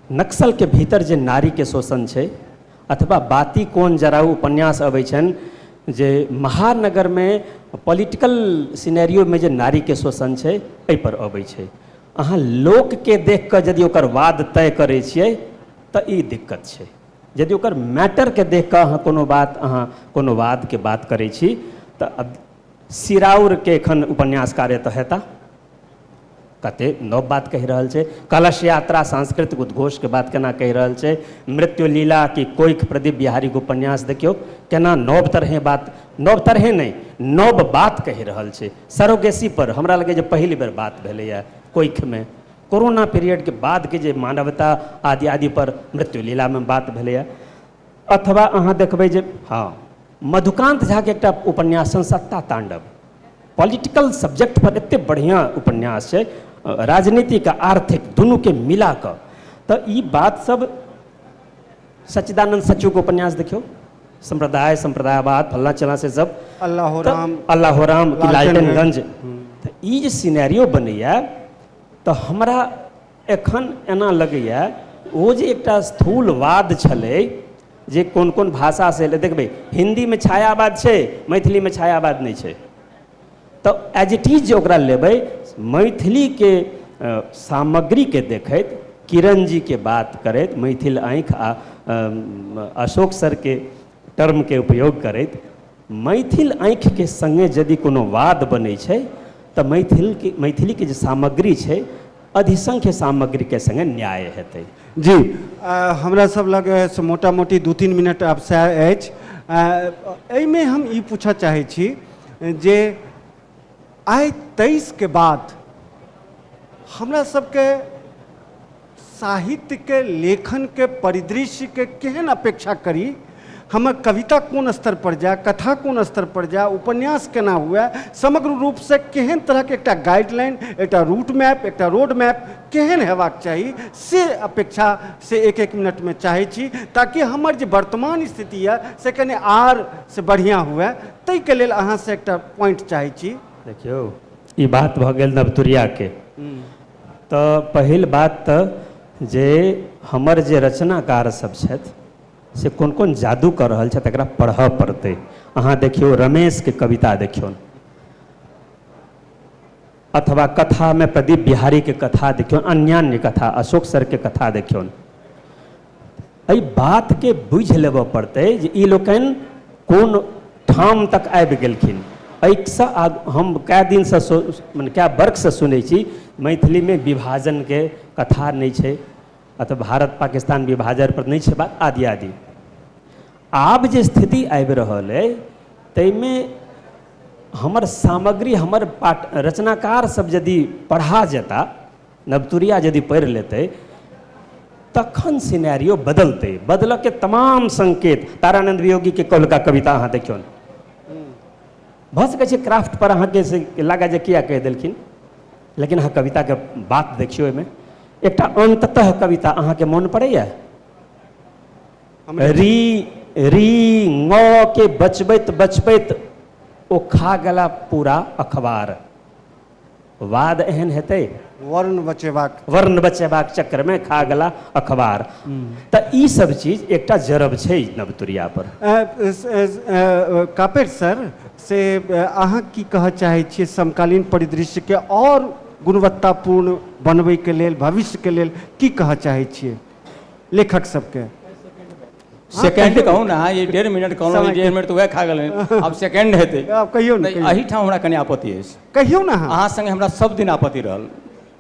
नक्सलके भीतर जे नारीके शोषण छै अथवा बाती कोन जराउ उपन्यास अबै छनि जे महानगरमे पॉलिटिकल सिनेरियोमे जे नारीके शोषण छै एहिपर अबै छै अहाँ लोकके देख कऽ यदि ओकर वाद तय करै छियै तऽ ई दिक्कत छै यदि ओकर मैटरके देख कऽ अहाँ कोनो बात अहाँ कोनो वादके बात करै छी तऽ सिराउरके एखन उपन्यासकार एतऽ हेता कते नव बात कहि रहल छै कलश यात्रा सांस्कृतिक उद्घोष के बात केना कहि रहल छै मृत्यु लीला की कोइख प्रदीप बिहारी के उपन्यास देखियौ केना नव तरहे बात नव तरहे नहि नव बात कहि रहल छै सरोगेसी पर हमरा लगे जे पहिल बेर बात भेलैए कोइखमे कोरोना पीरियडके बादके जे मानवता आदि आदि पर मृत्यु लीलामे बात भेलैए अथवा अहाँ देखबै जे हँ मधुकान्त झाके एकटा उपन्यास छनि सत्ता ताण्डव पॉलिटिकल सब्जेक्ट पर एतेक बढ़िआँ उपन्यास छै राजनीतिक आ आर्थिक दुनूके मिला कऽ तऽ ई बात सब सच्चिदानन्द सचूके उपन्यास देखियौ सम्प्रदाय सम्प्रदायवाद फल्ला चला से सब अल्लाह राम अल्लाह राम लालटेनगंज तऽ ई जे सिनेरियो बनैया तऽ हमरा एखन एना लगैए ओ जे एकटा स्थूलवाद छलै जे कोन कोन भाषासँ एलै देखबै हिन्दीमे छायावाद छै मैथिलीमे छायावाद नहि छै तऽ एज इट इज जे ओकरा लेबै मैथिलीके सामग्रीके देखैत किरणजीके बात करैत मैथिल आँखि आ अशोक सरके टर्मके उपयोग करैत मैथिल आँखिके सङ्गे यदि कोनो वाद बनै छै तऽ मैथिलके मैथिलीके जे सामग्री छै अधिसंख्य सामग्रीके सङ्गे न्याय हेतै जी आ, हमरा सब लग से मोटा मोटी दू तीन मिनट आब सएह अछि आ, एहिमे हम ई पूछऽ चाहै छी जे आइ तेइस के बाद हमरा सबके साहित्य के लेखन के परिदृश्य के केहन अपेक्षा करी हमर कविता कोन स्तर पर जाए कथा कोन स्तर पर जाए उपन्यास केना हुए समग्र रूप से केहन तरह के एकटा गाइडलाइन एकटा रूट मैप एकटा रोड मैप केहन हेबाक चाही से अपेक्षा से एक एक मिनट में चाहै छी ताकि हमर जे वर्तमान स्थिति यऽ से कने आर से बढ़िया हुए ताहिके लेल अहाँसँ एकटा पॉइंट चाहै छी देखियौ ई बात भऽ गेल नवतुरियाके तऽ पहिल बात तऽ जे हमर जे रचनाकार सब छथि से कोन कोन जादू कऽ रहल छथि एकरा पढ़ऽ पड़तै अहाँ देखियौ रमेशके कविता देखियौ अथवा कथा मे प्रदीप बिहारी के कथा देखियौन अन्यान्य कथा अशोक सर के कथा देखियौन एहि बात के बुझि लेबऽ पड़तै जे ई लोकनि कोन ठाम तक आबि गेलखिन एहिसँ आग हम कए दिनसँ सो मने कए वर्षसँ सुनै छी मैथिलीमे विभाजनके कथा नहि छै अथवा भारत पाकिस्तान विभाजन पर नहि छै बात आदि आदि आब जे स्थिति आबि रहल अइ ताहिमे हमर सामग्री हमर पाठ रचनाकार सब यदि पढ़ा जेता नवतुरिया यदि पढ़ि लेतै तखन सिनेरियो बदलतै बदलऽके तमाम संकेत तारानंद वियोगीके कहलका कविता अहाँ देखियौ भऽ सकै छै क्राफ्ट पर अहाँके से लागै जे किया कहि देलखिन लेकिन अहाँ कविताके बात देखियौ ओहिमे एकटा अन्ततः कविता अहाँके मोन पड़ैए री री ङ के बचबैत बचबैत ओ खा गेला पूरा अखबार वाद एहन हेतै वर्ण बचेबाक वर्ण बचेबाक चक्करमे खा गेला अखबार तऽ ई सब चीज एकटा जरब छै नवतुरिया पर कापेर सर से अहाँ की कहऽ चाहै छियै समकालीन परिदृश्यके आओर गुणवत्तापूर्ण बनबैके लेल भविष्यके लेल की कहऽ चाहै छियै लेखक सबके सेकेंड कहू ने अहाँ ई डेढ़ मिनट कहलहुँ समय ई डेढ़ मिनट तऽ वएह खा गेल आब सेकेंड हेतै आब कहियौ ने तऽ कहियौ। एहिठाम हमरा कनि आपत्ति अछि कहियौ ने अहाँ अहाँ संगे हमरा सब दिन आपत्ति रहल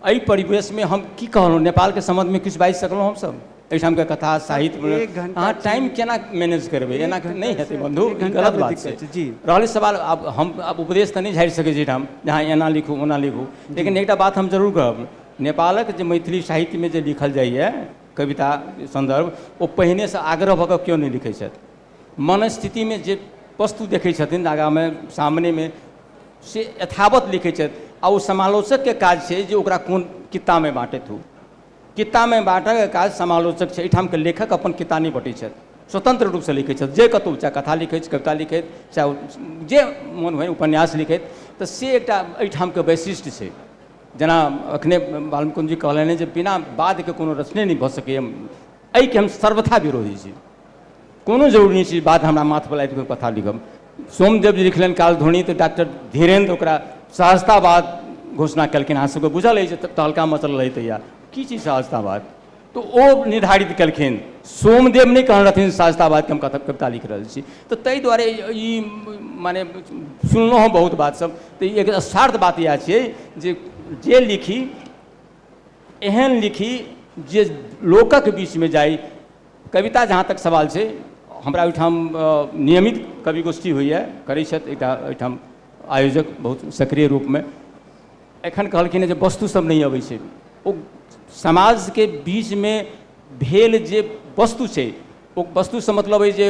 एहि परिवेशमे हम की कहलहुँ नेपालके सम्बन्धमे किछु बाजि सकलहुँ हमसब एहिठामके कथा साहित्य एक घंटा अहाँ टाइम केना मैनेज करबै एना नहि हेतै बन्धु एक ई घंटा गलत मे बात दिक्कत छै छै, जी। रहलै सवाल आब हम आब उपदेश तऽ नहि झाड़ि सकै छी एहिठाम जे अहाँ एना लिखू ओना लिखू लेकिन एकटा बात हम जरूर कहब नेपालक जे मैथिली साहित्यमे जे लिखल जाइए कविता सन्दर्भ ओ पहिनेसँ आग्रह भऽ कऽ केओ नहि लिखै छथि मनस्थितिमे जे वस्तु देखै छथिन आगाँमे सामनेमे से यथावत लिखै छथि आ ओ समालोचकके काज छै जे ओकरा कोन कित्तामे बाँटैत हो कित्तामे बाँटयके काज समालोचक छै एहिठामके लेखक अपन कित्ता नहि बँटै छथि स्वतन्त्र रूपसँ लिखै छथि जे कतहु चाहे कथा लिखैत छथि कविता लिखैत चाहे जे मोन होय उपन्यास लिखैत तऽ से एकटा एहिठामके वैशिष्ट्य छै जेना अखने बालमुकुन्द जी कहलनि हँ जे बिना वादके कोनो रचने नहि भऽ सकैए एहिके हम सर्वथा विरोधी छी कोनो जरूरी नहि छै वाद हमरा माथपर लाबि कऽ कथा लिखब सोमदेव जी लिखलनि कालध्वनि तऽ डॉक्टर धीरेन्द्र ओकरा सहजतावाद घोषणा केलखिन अहाँ सबके बुझल अछि जे तहलका मचल रहै तहिया की चीज सहजतावाद तऽ ओ निर्धारित केलखिन सोमदेव नहि कहने रहथिन शास्ताबादके हम कथा कविता लिखि रहल छी तऽ ताहि दुआरे ई मने सुनलहुँ हँ बहुत बातसभ तऽ एक सार्थ बात इएह छियै जे जे लिखी एहन लिखी जे लोकक बीचमे जाइ कविता जहाँ तक सवाल छै हमरा ओहिठाम नियमित कवि गोष्ठी होइए करै छथि एकटा एहिठाम आयोजक बहुत सक्रिय रूपमे एखन कहलखिन हँ जे वस्तु सब नहि अबै छै ओ समाज के बीच मे भेल जे वस्तु छै ओ वस्तु सँ मतलब अइ जे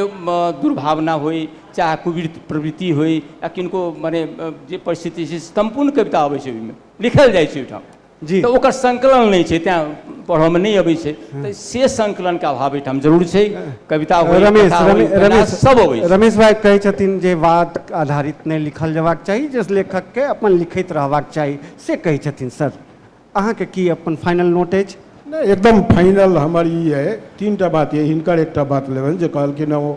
दुर्भावना होइ चाहे कुवृति प्रवृति होइ या किनको मने जे परिस्थिति छै सम्पूर्ण कविता अबै छै ओहिमे लिखल जाइ छै ओहिठाम जी तऽ ओकर संकलन नहि छै तैँ पढ़ऽ मे नहि अबै छै तऽ से संकलनके अभाव एहिठाम जरूर छै कविता होइ रमेश कथा होइ, रमे- उपन्यास रमेश सब अबै छै रमेश भाई कहै छथिन जे वाद आधारित नहि लिखल जयबाक चाही जे लेखकके अपन लिखैत रहबाक चाही से कहै छथिन सर अहाँके की अपन फाइनल नोट अछि नहि एकदम फाइनल हमर ई अइ तीन टा बात अइ हिनकर एकटा बात लेबनि जे कहलखिन हँ ओ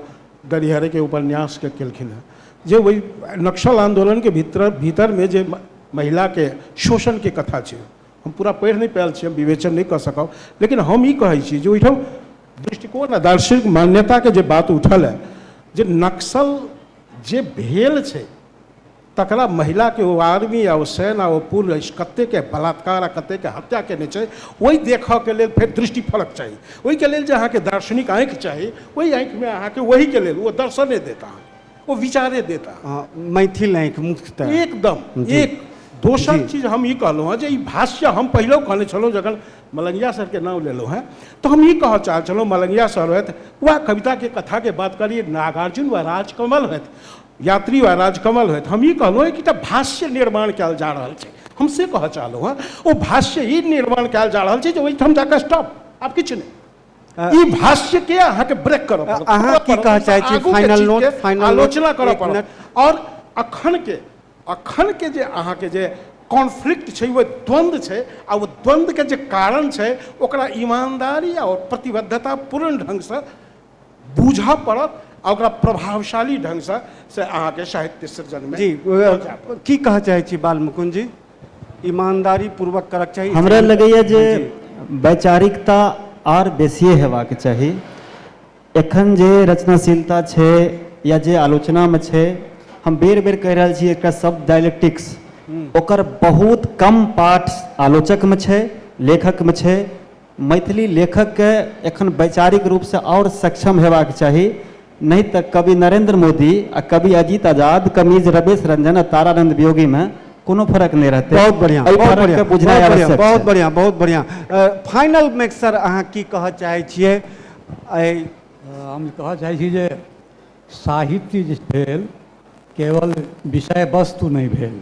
गड़िहरके उपन्यासके केलखिन हँ जे ओहि नक्सल आन्दोलनके भीतर भीतरमे जे म- महिलाके शोषणके कथा छै हम पूरा पढ़ि नहि पायल छी हम विवेचन नहि कऽ सकब लेकिन हम ई कहै छी जे ओहिठाम दृष्टिकोण आ दार्शनिक मान्यताके जे बात उठल है जे नक्सल जे भेल छै तकरा महिलाके ओ आर्मी आ ओ सैन आ ओ पुलिस कतेकके बलात्कार आ कतेकके हत्या केने छै ओहि देखऽके लेल फेर दृष्टि फलक चाही ओहिके लेल जे अहाँके दार्शनिक आँखि चाही ओहि आँखिमे अहाँके ओहिके लेल ओ दर्शने देत अहाँके ओ विचारे देता हँ, मैथिल आँखि मुख्यतः एकदम जी। एक दोसर जी। चीज हम ई कहलहुँ हँ जे ई भाष्य हम पहिलहु कहने छलहुँ जखन मलंगिया सरके नाम लेलहुँ हँ तऽ हम ई कहऽ चाहै छलहुँ मलंगिया सर होथि वा कविताके कथाके बात करी नागार्जुन वा राजकमल होथि यात्री वा राजकमल होथि हम ई कहलहुँ हँ कि एकटा भाष्य निर्माण कयल जा रहल छै हम से कहऽ चाहलहुँ हँ ओ भाष्य ई निर्माण कयल जा रहल छै जे ओहिठाम जाकऽ स्टॉप आब किछु नहि ई भाष्य के अहाँ के ब्रेक करऽ पड़त अहाँ पढ़ऽ की पड़त, कहऽ चाहै छी? आगू के Final चीज note, के final note, आलोचना करऽ एक पड़त मिनट। और अखन के अखन के जे अहाँ के जे कॉन्फ्लिक्ट छै वो द्वंद्व छै आ वो द्वंद्व के जे कारण छै ओकरा ईमानदारी और प्रतिबद्धता पूर्ण ढंग से बूझऽ पड़त आ ओकरा प्रभावशाली ढंग से से अहाँ के साहित्य सृजन में जी पहुँचा पड़त। अ, की कहऽ चाहै छी बाल मुकुंद जी ईमानदारी पूर्वक करक चाही हमरा लगैए जे वैचारिकता आर बेसिए हेबाक चाही एखन जे रचनाशीलता छै या जे आलोचनामे छै हम बेर बेर कहि रहल छी एकटा शब्द डायलेक्टिक्स ओकर बहुत कम पाठ आलोचकमे छै लेखकमे छै मैथिली लेखकके एखन वैचारिक रूपसँ आओर सक्षम हेबाक चाही नहि तऽ कवि नरेन्द्र मोदी आ कवि अजीत आजाद कमीज रवेश रंजन आ तारानंद वियोगीमे कोनो फर्क नहि रहतै बहुत बढ़िया एहि बहुत फर्क बढ़िया के बहुत बुझनाइ बढ़िया आवश्यक बहुत छै। बढ़िया बहुत बढ़िया फाइनल में सर अहाँ की कहऽ चाहै छियै एहि हम कहऽ चाहै छी जे साहित्य जे भेल केवल विषय वस्तु नहि भेल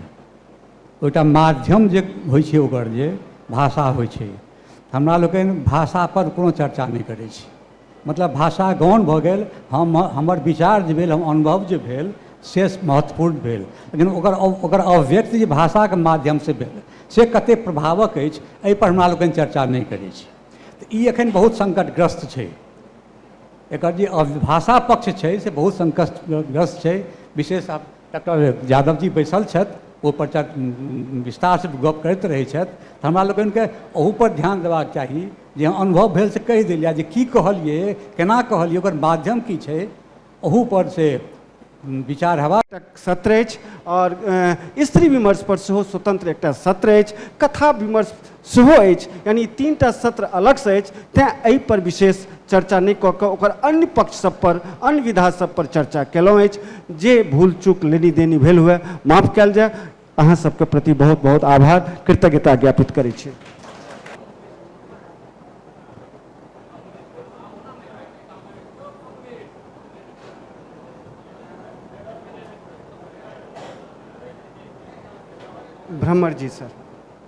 ओहिटा माध्यम जे होइ छै ओकर जे भाषा होइ छै हमरा लोकनि भाषापर कोनो चर्चा नहि करै छी मतलब भाषा गौण भऽ गेल हम हमर विचार जे भेल हम अनुभव जे भेल से महत्वपूर्ण भेल लेकिन ओकर ओकर अभिव्यक्ति जे भाषाके माध्यमसँ भेल से कतेक प्रभावक अछि एहिपर हमरा लोकनि चर्चा नहि करै छी तऽ ई एखन बहुत सङ्कटग्रस्त छै एकर जे भाषा पक्ष छै से बहुत सङ्कटग्रस्त छै विशेष डॉक्टर यादव जी बैसल छथि ओहिपर चर विस्तारसँ गप करैत रहै छथि तऽ हमरा लोकनिके ओहूपर ध्यान देबाक चाही जे अनुभव भेल से कहि देल जाए जे कि कहलिए कोना कहलिए ओकर माध्यम कि छै ओहूपर से विचार हेबाक एकटा सत्र अछि आओर अ, स्त्री विमर्श पर सेहो स्वतंत्र एकटा सत्र अछि कथा विमर्श सेहो अछि। यानि ई तीन टा सत्र अलगसँ अछि तेँ एहिपर विशेष चर्चा नहि कऽ कऽ ओकर अन्य पक्षसभपर, अन्य विधासभपर चर्चा केलहुँ अछि। जे भूल-चूक, लेनी-देनी भेल हुअए, माफ कएल जाए। अहाँसभके प्रति बहुत-बहुत आभार, कृतज्ञता ज्ञापित करै छी। भ्रमरजी सर।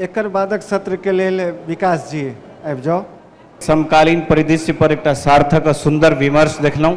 एकर बादक सत्र के लेल विकास जी आबि जाउ। समकालीन परिदृश्य पर एकटा सार्थक आ सुन्दर विमर्श देखलहुँ।